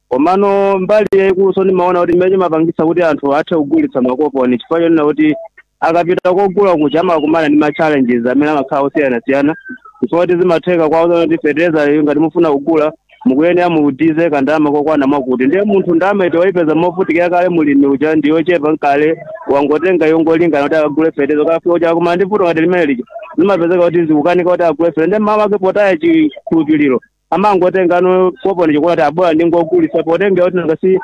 komano mbali yayikulunso ndimaona kuti imene chimapangitsa kuti anthu athe kugulitsa makoponi chifukwa chonena kuti akapita kogula kuja amakumana ndi ma challenges amene amakhala osiyanasiyana chifukwa kuti zimatheka kuwauza kuti fertilizer ngati mufuna kugula mukuyenera muyike kandalama kokwana mwakuti ndiye munthu ndalama yoti wayipeza movutikira kale mulimi uja ndi yochepa nkale wangotenga yongolingana kuti akagule fertilizer akafika uja akumana ndi vuto ngati limene lija zimapezeka kuti zikukanika kuti agule fertilizer ndiye mmawa ake potaya chikhulupiriro amangotengano koponi ija kuona kuti a bola ndingogulisa potengera kuti nanga si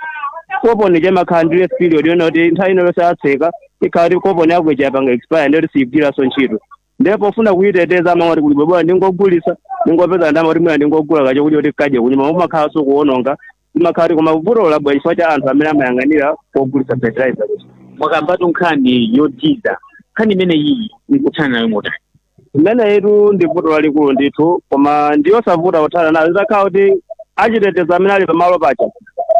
koponi ija imakhala ndi grace period yonena kuti nthawi ina iliyonse atseka ikhala kuti koponi yako ija yapanga expire ndiyoti siyigwiranso ntchito ndiye pofuna kuyiteteza amangoti kuti bola ndingogulisa ndingopeza ndama kuti mwina ndingogula kachokudya kuti akadye kunyumba umakhalanso kuwononga zimakhala kuti koma vuto labwera chifukwa cha anthu amene amayang'anira pogulitsa fertilizer kuti mwakambatu nkhani yothandiza nkhani imene iyi nkuthana nayo motani limenelitu ndi vuto lalikulu ndithu koma ndi yosavuta kuthana nayo zitakhala kuti achitetezo amene ali pamalo paja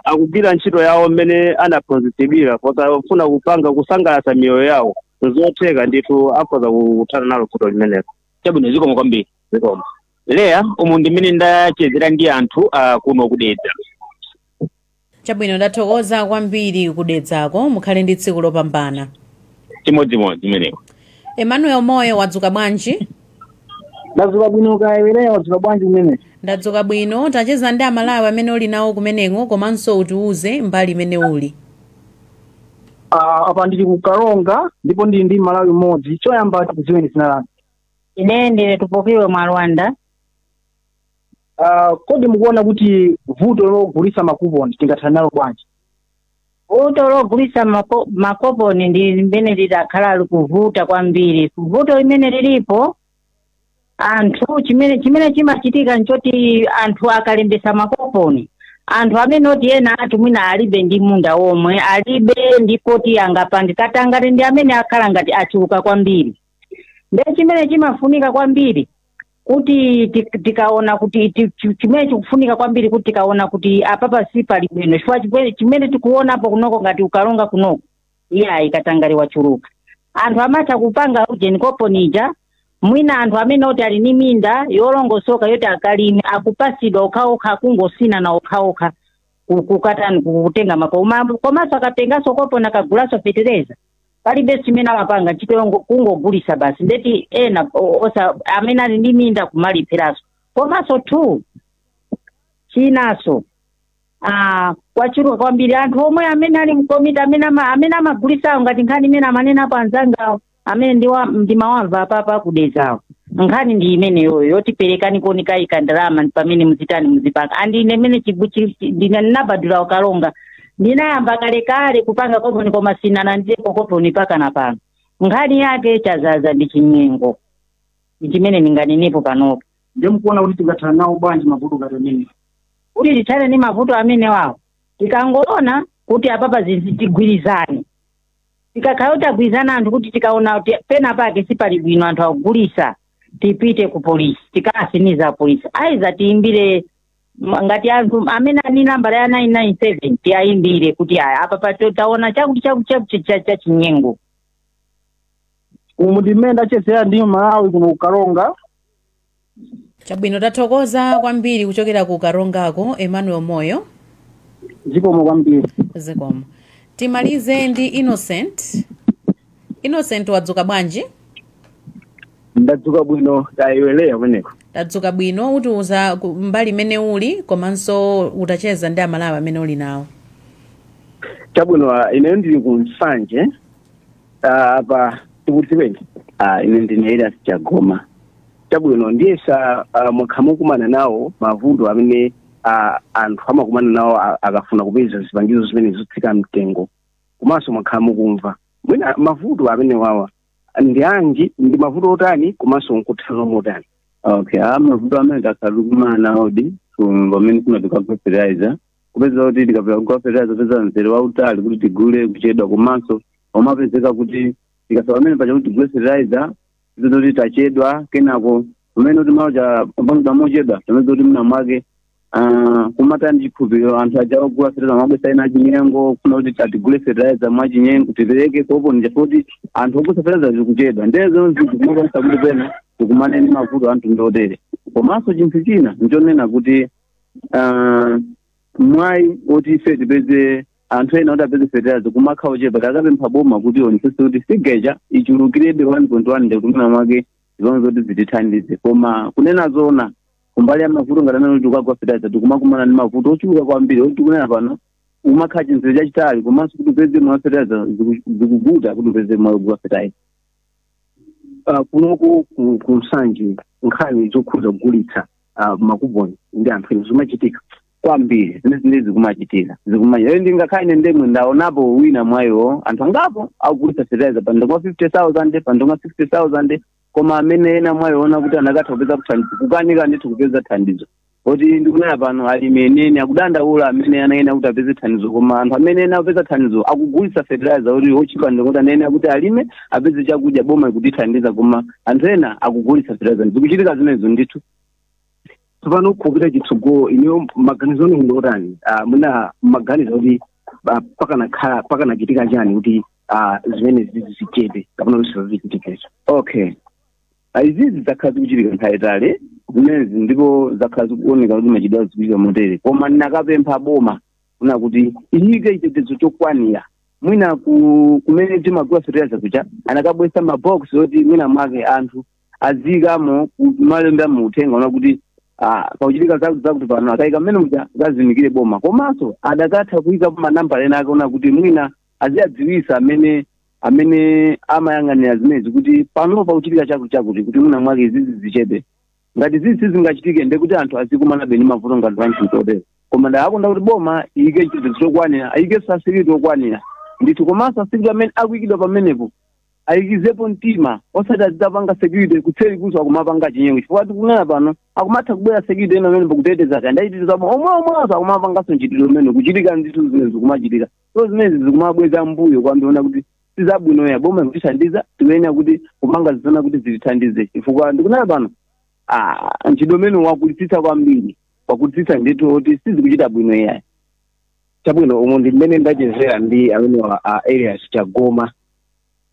akugwira ntchito yawo mmene anaphunzitsidwira posafuna kupanga kusangalatsa miyoyo yawo nzotheka ndithu akhoza kuthana nalo vuto limenelo chabwino zikomo kwambiri zikomo leya umu ndi mmene ndachezera ndi anthu uh, kuno kudedza chabwino ndathokoza kwambiri kudedzako mukhale ndi tsiku lopambana chimodzimodzi imeneyo emmanuel moyo wadzuka bwanji ndadzuka bwino kaya Leya wadzuka bwanji kumene ndadzuka bwino tacheza ndi amalawi amene uli nawo kumeneko komanso utiuze mbali imene uli Ah, apa ndili ku karonga ndipo ndili ndi mmalawi mmodzi choyamba tikudziweni zina lanu ine ndine tupokiwe mwalwanda Ah, kodi mukuona kuti vuto logulisa makuponi tingathana nalo bwanji vuto logulisa mako- makoponi ndi limene lidakhala likuvuta kwambiri vuto limene lilipo anthu chimene chimene chimachitika nchoti anthu akalembesa makoponi anthu amene oti ena ati mwina alibe ndi munda womwe alibe ndi poti angapange katangale ndi amene akhala ngati achuluka kwambiri ndiye chimene chimafunika kwambiri kuti tik- tikaona kuti ti- chi- chimene chikufunika kwambiri kuti tikaona kuti apapa sipali bwino chifukwa chimene- chimene tikuonapo kunoko ngati kukaronga kunoko iyayi katangale wachuluka anthu amatha kupanga ujeni koponija mwina anthu amene oti ali ni minda yolongosoka yoti akalime akupasidwa okhaokha kungotsinana okhaokha ku- kukatani kutenga mako Uma- komanso akatenganso koponi akagulaso fetereza palibe chimene amapanga ntchito yongo- kungogulisa basi ndeti ena o- osa amene ali ndi minda kumalipiranso komanso two chinaso ah, kwachuluka kwambiri anthu omwe amene ali mkomiti amene ama- amene amagulisawo ngati nkhani imene amanenapo anzangawo amene ndiwa ndimawamva apapa kudedzawo nkhani ndi imeneyoyo yoti perekani konikayika ndalama pamene muzitani muzipanga andi ine imene chigu- chi- chi- ndine ndinabadwira kukaronga ndinayamba kalekale kupanga koponi koma sinalandirepo koponi pakana pano nkhani yake chazaza ndi chinyengo ndi chimene ndinganenepo panopo ndiye mukuona kuti tingathana nawo bwanji mavuto ngati amene kuti tithane ndi mavuto amenewawo tikangoona kuti apapa zinthu tigwirizane tikakhala tagwirizana anthu kuti tikaona kuti pena pake sipali bwino anthu akugulisa tipite ku polisi tikatsinize polisi aiza tiyimbire Ma- ngati anthu amene ali ni nambala ya 997 tiayimbire kuti aya apapa taona chakuti chakuti chakuti cha- cha chinyengo umu ndi mmene ndachezera ndi mmalawi kuno kukaronga chabwino tathokoza kwambiri kuchokera ku karongako emmanuel moyo zikomo kwambiri zikomo timalize ndi innocent innocent wadzuka bwanji ndadzuka bwino kaya iweyo kumeneko ndadzuka bwino utiuza ku- mbali imene uli komanso utacheza ndi amalawi amene uli nawo chabwino ah, ineyo ndili ku nsanje ah, apa tikudziweni Ah, ine ndine elias chagoma chabwino ndiyesa ah, mwakhala mukukumana nawo mavuto amene ah, anthu amakumana nawo ah, akafuna kupeza zipangizo zimenezi zotsika mtengo komanso mwakhala mukumva mwina mavuto amenewawa ndi anji ndi mavuto otani komanso nkuthana nawo motani okay a mavuto amene takhala tikumana nawodi ku- pamene timatenga fertilizer kupeza kuti tikapita kugula fertilizer kupeza mzere wautali kuti tigule kuchedwa komanso kumapezeka kuti tikafika pamene paja kuti tigule fertilizer zoti tachedwa kenako pamene kuti maujeni pambuyo mochedwa pamene kuti mwina mwake ah, kumakhala ndi chikhulupiriro anthu aja ogula fertilizer amabweretsa zina zachinyengo kufuna kuti tatigule fertilizer mwachinyengo tipereke kopo nja kuti anthu ogula fertilizer zikuchedwa ndiye zonse zikumachititsa kuti pena tikumane ndi mavuto anthu ndi otere komanso chinthu china ndichonena kuti ah, mwayi woti ife tipeze anthu ena kuti apeze fertilizer umakhala ochepa tinakapempha boma kuti ionetsetse kuti figure ija ichulukirebe 1.1 ndi kuti mwina mwake zonse zoti zitithandize koma kunena zona kumbali ya mavuto ngati amene tikagula fertilizer tikumakumana ndi mavuto ochuluka kwambiri oti kunena pano umakhala chimzere chachitali komanso kuti upeze mwayi wa fertilizer ziku- zikuvuta kuti upeze mwayi wogula fertilizer uh, kunoko ku, ku nsanje nkhani zokhudza kugulitsa uh, makuponi ndi anthu ena zikumachitika kwambiri zimene zimene zikumachitika zikumachitika ende ngakhale ine ndemwene ndaonapo wina mwayi woona anthu angapo akugulitsa fertilizer pa mtengo wa 50000 pa mtengo wa 60000 koma amene ena mwayi wonena kuti anakatha kupeza thandizo kukanika ndithu kupeza thandizo poti ndikunena pano alimi enieni akudandaula amene anayenera kuti apeze thandizo koma anthu amene ena apeza thandizo akugulitsa fertilizer kuti otchipa ndikuti anayenera kuti alime apeze chakudya boma likutithandiza koma anthu ena akugulitsa fertilizer zikuchitika zimenezo ndithu tsopano kupita chitsogolo inuyo maganizo anu ndi otani Ah, mwina maganizo kuti ah, pakanakhala pakanachitika chani kuti ah, zimenezi zichepe kapena kuti zisachitikenso okay Ah, izizi zakhala zikuchitika nthawi yayitali zimenezi ndipo zakhala zikuoneka kuti nthawi zina zikuchitika motere koma ndinakapempha boma kunena kuti iyike chitetezo chokwanira mwina ku- kumene timagula fertilizer kuja anakabweretsa mabox oti mwina mwake anthu aziyikamo malemba a mauthenga onena kuti ah, pakuchitika za- zakuti pano akayika mmene muja zazindikire boma komanso adakatha kuyikapo manambala ena ake onena kuti mwina aziyadziwisa amene amene amayang'anira zimenezi kuti pano pakuchitika chakuti chakuti kuti mwina mwake zizi zichepe ngati zizi sizingachitike nde kuti anthu azikumanabe ndi mavuto ngati panthupi otero koma ndikanakonda kuti boma iyike chitetezo chokwanira ayike security okwanira ndithu komanso a security amene akuyikidwa pamenepo ayikizepo mtima osati azitapanga security kuseri kunso akumapanga chinyengo chifukwa tikunena pano akumatha kubwera security ena amene pakuteteza kaya ndayiteteza omwewonso akumapanganso mchitidwe umene ukuchitika ndithu zimene zikumachitika so zimenezi zikumabweza mbuyo koma ndiona kuti sizabwino ya boma ikutithandiza tiyenera kuti kupanga zizona kuti zitithandize chifukwa ndikunena pano ah, mchitidwe umene wakulitsitsa kwambiri wakulitsitsa ndithu kuti sizikuchita bwino yayi chabwino umu ndi mmene ndachezera ndi amenewa a elias chagoma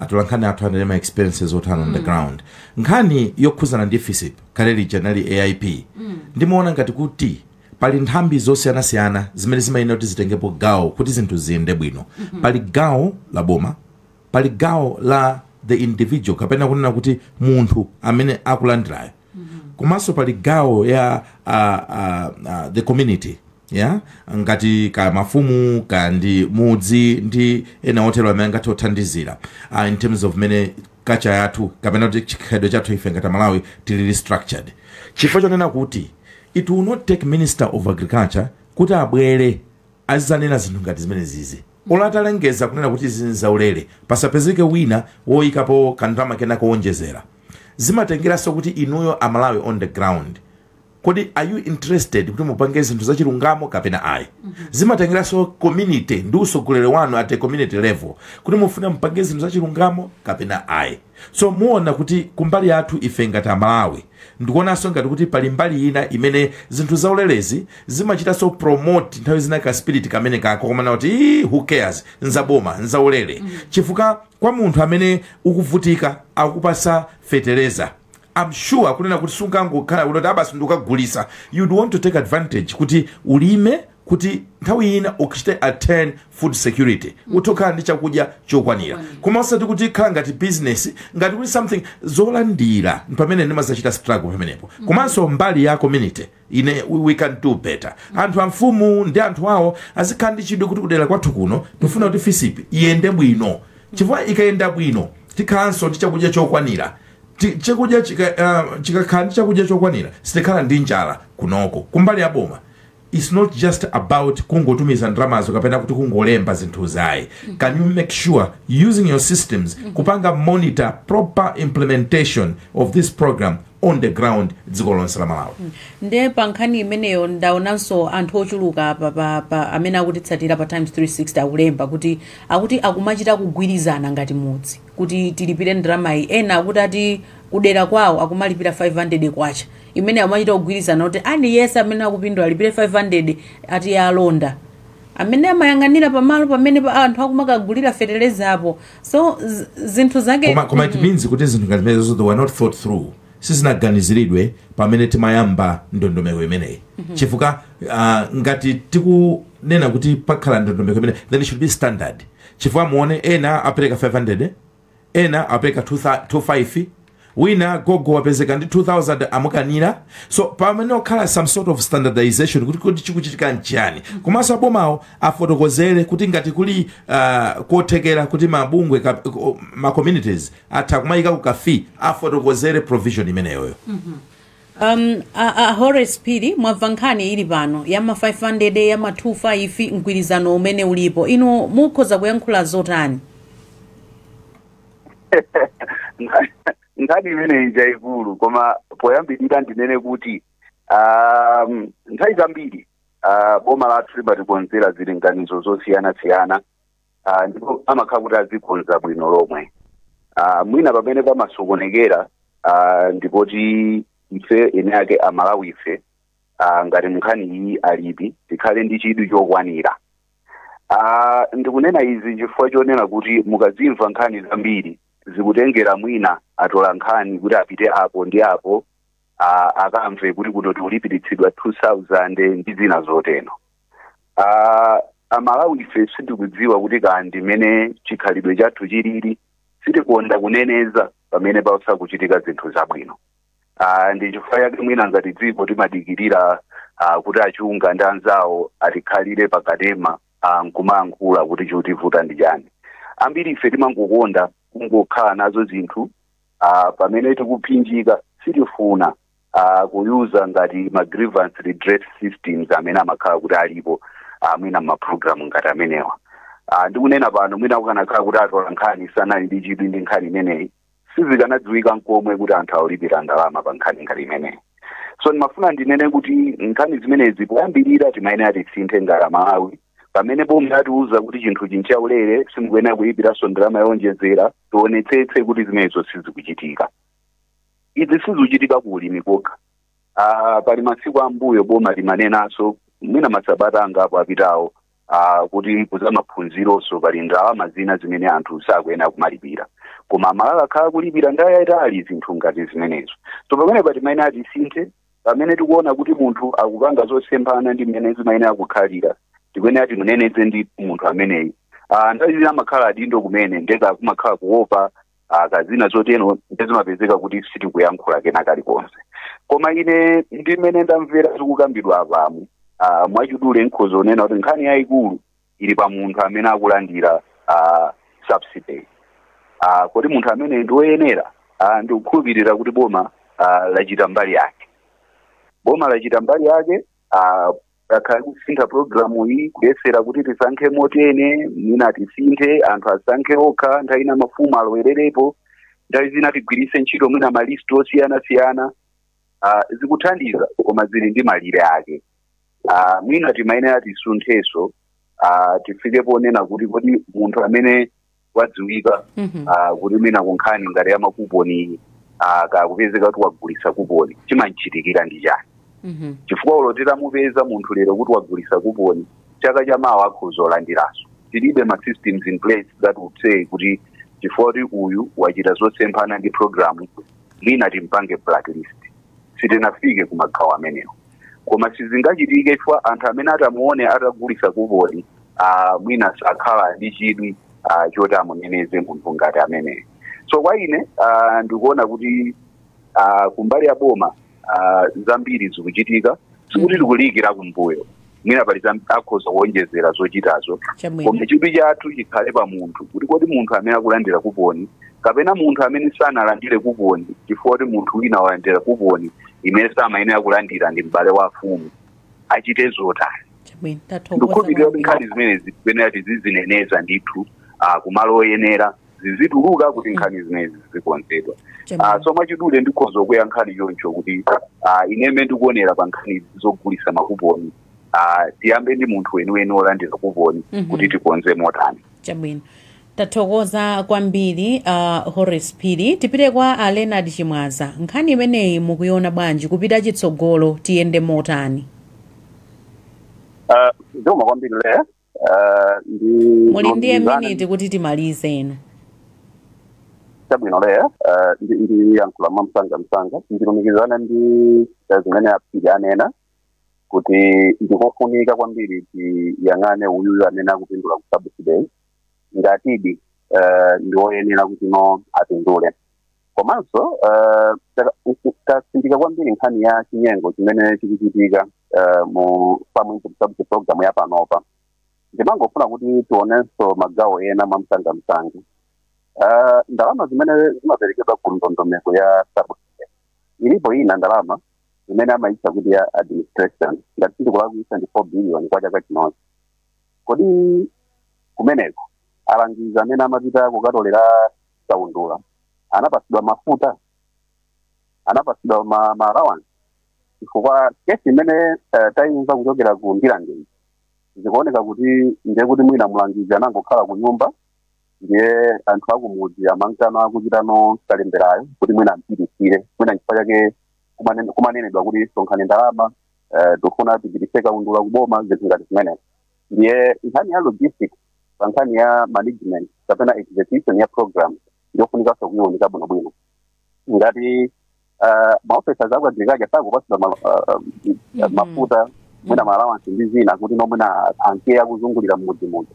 atolankhani athu ali ndi ma experiences otani on the ground nkhani yokhuzana ndi fisip kale lija nali aip ndimaona ngati kuti pali nthambi zosiyanasiyana zimene zimayenera kuti zitengepo gawo kuti zinthu ziyende bwino pali gawo la boma pali gawo la the individual kapena kunena kuti munthu amene akulandirayo komanso pali gawo ya uh, uh, uh, the community ya ngati ka mafumu ka ndi mudzi ndi ena otero amene angathe kuthandizira uh, in terms of mene culture yathu kapena kuti chikhalidwe chathu ife ngati amalawi tilili structured chifukwa chonena kuti it will not take minister of agriculture kuti abwere azizanena zinthu ngati zimene zizi olo atalengeza kunena kuti izi nzaulere pasapezeke wina woyikapo kandalama kena kowonjezera zimatengeranso kuti inuyo amalawi on the ground kodi are you interested kuti mupange zinthu zachilungamo kapena ayi zimatengeranso community ndi utsogoleri wanu at a community level kuti mufuna mupange zinthu zachilungamo kapena ayi so muona kuti kumbali yathu ife ngati amalawi ndikuonanso ngati kuti pali mbali ina imene zinthu zaulerezi zimachitanso promote nthawi zina ka spirit kamene kakomanena kuti "Ii, who cares nzaboma nzaulere chifukwa kwa munthu amene ukuvutika akupatsa feteleza I'm sure kunena kuti sungangokhala kuti a basi ndikukagulisa you'd want to take advantage kuti ulime kuti nthawi ina ukachite attain food security kuti ukhala ndi chakudya chokwanira koma osati kuti ikhala ngati business ngati kuti something zolandira pamene ndimazachita struggle pamenepo komanso mbali ya community Ine we, we can do better. Anthu amfumu ndi anthu awo azikhala ndi chidwi kuti kudera kwathu kuno tifuna kuti fisip iyende bwino chifukwa ikayenda bwino tikhalanso ndi chakudya chokwanira Ti- chakudya chika- ah, tikakhala ndi chakudya chokwanira sitikhala ndi njala kunoko kumbali ya boma it's not just about kungotumiza ndalamazo kapena kuti kungolemba zinthuzo ayi can you make sure using your systems kupanga monitor proper implementation of this program on the ground dziko lonse la malawi nde pa nkhani imeneyo ndaonanso anthu ochuluka apa pa, pa amene akutitsatira pa times 360 akulemba kuti akuti akumachita kugwirizana ngati mudzi kuti tilipire ndramayi ena akuti ati kudera kwawo akumalipira 500 kwacha imene akumachita kugwirizana kuti aliyense amene akupindula alipire 500 ati alonda amene amayang'anira pamalo pamene pa anthu akumakagulira feteleza apo so z- zinthu zake koma, koma it means kuti zinthu ngati zimenezo they were not thought through sizinaganiziridwe pamene timayamba ndondomeko imeneyi chifukwa ah, ngati tikunena kuti pakhala ndondomeko imeneyi then it should be standard chifukwa muone ena apereka 500 ena apereka 25 wina gogo wapezeka ndi 2000 amukanira so pamayenera kukhala some sort of standardization kuti kuti chikuchitika nchiyani komanso abomawo afotokozere kuti ngati kuli uh, kothekera kuti mabungwe ka- ko- ma communities atha kumayika ku kafi afotokozere provision imeneyoyo um, a, a horace phiri mwamva nkhani ili pano ya ma 500 ya ma 25 mgwirizano umene ulipo inu mukhoza kuyankhula zotani nkhani imeneyi njayikulu koma poyambirira ndinene kuti um, nthawi zambiri uh, boma lathu limatikonzera zilinganizo zosiyanasiyana uh, ndipo amakhala kuti azikonza bwino lomwe uh, mwina pamene pamasokonekera uh, ndipoti ife eni ake amalawi ife uh, ngati munkhani iyi alipi tikhale ndi chidwi chokwanira Ah, ndikunena izi chifukwa chonena kuti mukazimva nkhani zambiri zikutengera mwina atola nkhani kuti apite apo ndi apo ah, akamve kuti kuno tikulipiritsidwa 2000 ndi zina zoteno Ah, amalawi ife sitikudziwa kuti kandi mmene chikhalidwe chathu chilili sitikonda kuneneza pamene pasakuchitika zinthu zabwino uh, ndi chifukwa chake mwina ngati dziko timadikirira uh, kuti achunga ndi anzawo atikhalire pakanema uh, nkumayankhula kuti chikutivuta ndi chani ambiri ife timangokonda kungokhala nazo zinthu uh, pamene tikuphinjika sitifuna uh, kuyuza ngati ma grievance redress systems amene amakhala kuti alipo uh, mwina m'maprogramu ngati amenewa uh, ndikunena pano mwina kukanakhala kuti atola nkhani sanali ndi chidwi ndi nkhani imeneyi sizikanadziwika nkomwe kuti anthu aulipira ndalama pa nkhani ngati imeneyi so ndimafuna ndinene kuti nkhani zimenezi poyambirira timayenera tisinthe ngati amalawi pamene boma atiuza kuti chinthu chinchaulere simukuyenera kulipiranso ndalama yowonjezera tionetsetse kuti zimenezo sizikuchitika izi sizikuchitika ku ulimi kokha Ah, pali masiku ambuyo boma limanenanso mwina masabata angapo apitawo uh, kuti ku zamaphunzironso pali ndalama zina zimene anthu sakuyenera kumalipira koma amalawi akhala kulipira nthawi yayitali zinthu ngati zimenezo so pamene timayenera tisinthe pamene tikuona kuti munthu akupanga zosemphana ndi mmene zimayenera kukhalira tikuyenera timuneneze ndi munthu ameneyi Ah, nthawi zina amakhala adindo kumene nde kakumakhala kuopa ah, kazina zotero nde zimapezeka kuti sitikuyankhula kena kalikonse koma ine ndi mmene ndamvera zikukambidwa apamu ah, mwachidule nkhoza kunena kuti nkhani yayikulu ili pa munthu amene akulandira ah, subsidy Ah, kodi munthu amene ndi oyenera ah, ndikukhulupirira kuti boma ah, lachita mbali yake boma lachita mbali yake ah, akhala kusintha programu iyi kuyesera kuti tisankhe motene mwina tisinthe anthu asankhe okha nthawi ina mafumu alowererepo nthawi zina tigwiritse ntchito mwina malisti osiyanasiyana ah, zikuthandiza koma zili ndi malire ake Ah, mwina timayenera tisunthenso ah, tifike ponena kuti kodi munthu amene wadziwika Mhm. ah, kuti mwina kunkhani ngati ya makuponi ah, kaya akapezeka kuti wagulitsa kuponi chimamchitikira ndi chani Mhm. chifukwa olo titamupeza munthu lero kuti wagulitsa kuponi chaka cha mawa akhoza kulandiranso tilibe ma systems in place that would say kuti chifukwa kuti uyu wachita zosemphana ndi programu mwina timpange blacklist sitinafike ku magawo amenewo koma sizingachitike chifukwa anthu amene atamuone atagulitsa kuponi ah, mwina sakhala ndi chidwi ah, choti amuneneze munthu ngati ameneyo so kwa ine ah, ndikuona kuti ah, kumbali ya boma ah, zambiri zikuchitika sikuti tikuliikira kumbuyo mwina pali zam- akhoza kuonjezera zochitazo Chabwino. koma chidwi chathu chikhale pa munthu kuti kodi munthu amene akulandira kuponi kapena munthu amene sanalandire kuponi chifukwa kuti munthu wina walandira kuponi imene samayenera kulandira ndi m'bale wa afumu achite zotani ndikukhulupirira kuti nkhani zimenezi ziyenera tizizineneza ndithu ah, kumalo oyenera zizituluka kuti nkhani zimenezi zizikonzedwa Chabwino. Ah, so mwachidule ndikhoza kuika nkhani choncho kuti ah, ine mmene ndikuonera pa nkhani zogulitsa makuponi ah, tiyambe ndi munthu weniweni wolandira kuponi Mhm. kuti tikonze motani chabwino tathokoza kwambiri uh, horace phiri tipite kwa a leonard chimwaza nkhani imeneyi mukuiona bwanji kupita chitsogolo tiyende motani Ah, zikomo kwambiri le ah, ndi muli ndi miniti kuti timalize ino chabwino le ah, ndi- ndiyankhula mwa msanga msanga ndilumikizana ndi ah, zimene a phiri anena kuti ndikofunika kwambiri tiyang'ane uyuyu amene akupindula ku subsidy ngatidi eh, ndi oyenera kutino apindule komanso eh, taka- uku- tatsindika kwambiri nkhani ya chinyengo chimene chikuchitika eh, mu farm input subsidy program ya panopa ndimangofuna kuti tionenso magawo ena mwamsangamsanga Eh, ndalama zimene zimaperekedwa ku ndondomeko ya subsidy ilipo ina ndalama imene amayitcha kuti ya administration ngati sindikulakwitsa ndi 4 billion kwa chaka chinochi kodi kumeneko alangizi amene amapita kukatolera kaundula anapatsidwa mafuta anapatsidwa ma, ma allowance chifukwa kesi imene uh, tayimva kuchokera ku ndirande yi zikuoneka kuti ndiye kuti mwina mlangizi anangokhala ku nyumba ndiye anthu akumudzi amankano akuchita kalemberayo kuti mwina ampititsire mwina nchifukwa chake kumane- kumanenedwa kuti sonkhani ndalama eh, tikufuna tipititse kaundula kuboma zinthu ngati zimenezo ndiye nkhani ya logistics pa nkhani ya management kapena execution ya program ndiyofunikanso kuiwunika bwinobwino ngati ah, ma officers a ku agriculture sakupatsidwa ma- ah, ah, Mhm. mafuta mwina maalawansi ndi zina kuti no mwina anke akuzungulira mmidzimu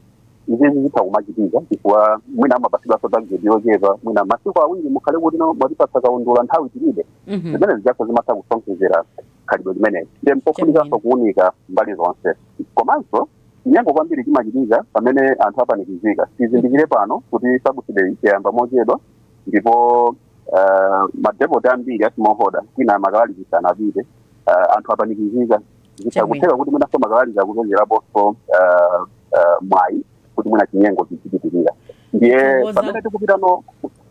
izizi zitha kumachitika chifukwa mwina amapatsidwanso tageti yochepa mwina masiku awiri mukhale kuti no mwatipatsa kaundula nthawi tilibe Mhm. zimenezijaso zimatha kusonkhezera khalidwe limeneli ndiye mpofunikanso kuunika mbali zonse komanso chinyengo kwambiri chimachitika pamene anthu apanikizika tizindikire pano kuti subsidy yayamba mochedwa ndipo uh, madepoti ambiri a smallholder kwina ma fertilizer sanapite uh, anthu apanikizika zitha kutheka kuti mwinaso makalaliza akupezeraponso uh, uh, mwayi kuti mwina chinyengo chichipitirira ndiye Ngoza. pamene tikupita no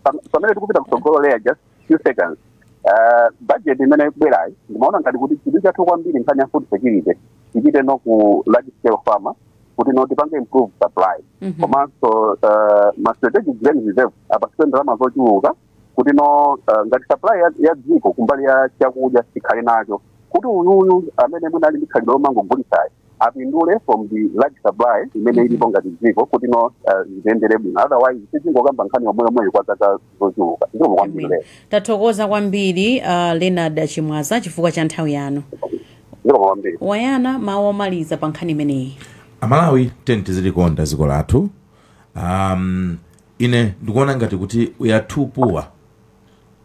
pam- pamene tikupita kutsogolo leya just few seconds uh, budget imene ikubwerayi ndimaona ngati kuti chidwi chathu kwambiri nkhani ya food security tichiikeno ku large scale farmer kuti no tipange improve supply Mhm. komanso eh, ma strategic grain reserve apatsidwe ndalama zochuluka kuti no eh, ngati supply ya- ya dziko kumbali ya chakudya tikhale nacho kuti uyuyu amene mwina ali ndi khalidwe lomangogulitsayo apindule from the large supply imene ilipo ngati dziko kuti no eh, zitiyendere bwino otherwise tidzingokamba nkhani yomweyomweyo kwa zaka zochuluka zikomo kwambiri Amen. lero tathokoza kwambiri uh, leonard chimwanza chifukwa cha nthawi yanu zikomo kwambiri a yona mawu omaliza pa nkhani imeneyi amalawi tiyeni tizilikonda dziko lathu um, ine ndikuona ngati kuti we are too poor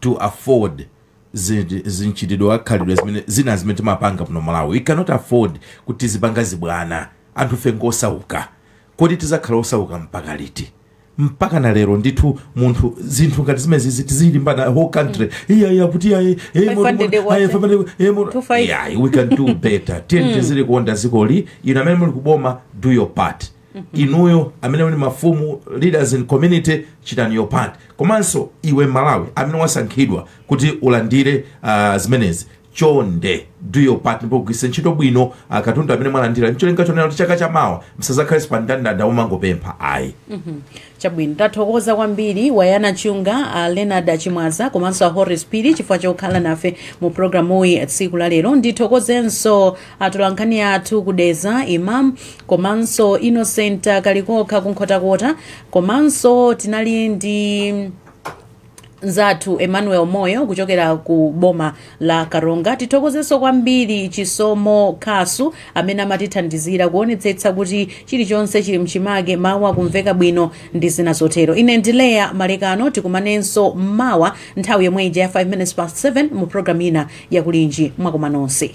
to afford zi- mchitidwe khalidwe zimene zina zimene timapanga muno malawi we cannot afford kuti tizipanga zibwana anthufe ngosauka kodi tizakhala osauka mpaka liti mpakana lero ndithu munthu zinthu ngati zimezizi tizilimbana whole country iya iya kuti iya iya, iya, moto, 500 moto, kwacha. iya, 500, iya, moto. 25. Yeah, we can do better tiyeni tizilikonda dzikoli inu amene muli kuboma do your part inuyo amene muli mafumu leaders in community chitani your part komanso iwe mmalawi amene wasankhidwa kuti ulandire ah, zimenezi Chonde do your part ndipo gwiritsani ntchito bwino ah, katundu amene mwalandira ncholinga chonena kuti chaka chamawa musazakhalenso pa ndandanda umangopempha ayi chabwino tathokoza kwambiri wa yona chunga a leonard achimwaza komanso a horace phiri chifukwa chokhala nafe mu programu iyi tsiku la lero ndithokozenso atolankhani athu kudedza imam komanso innocent kalikokha kunkhotakota komanso tinali ndi nzathu emmanuel moyo kuchokera ku boma la karonga tithokozenso kwambiri chisomo khasu amene amatithandizira kuonetsetsa kuti chilichonse chili mchimake mawu akumveka bwino ndi zina zotero ine ndi leah malekano tikumanenso mmawa nthawi yomwe ija ya 5 minutes past 7 mu programu ina ya kulinji mwakoma nonse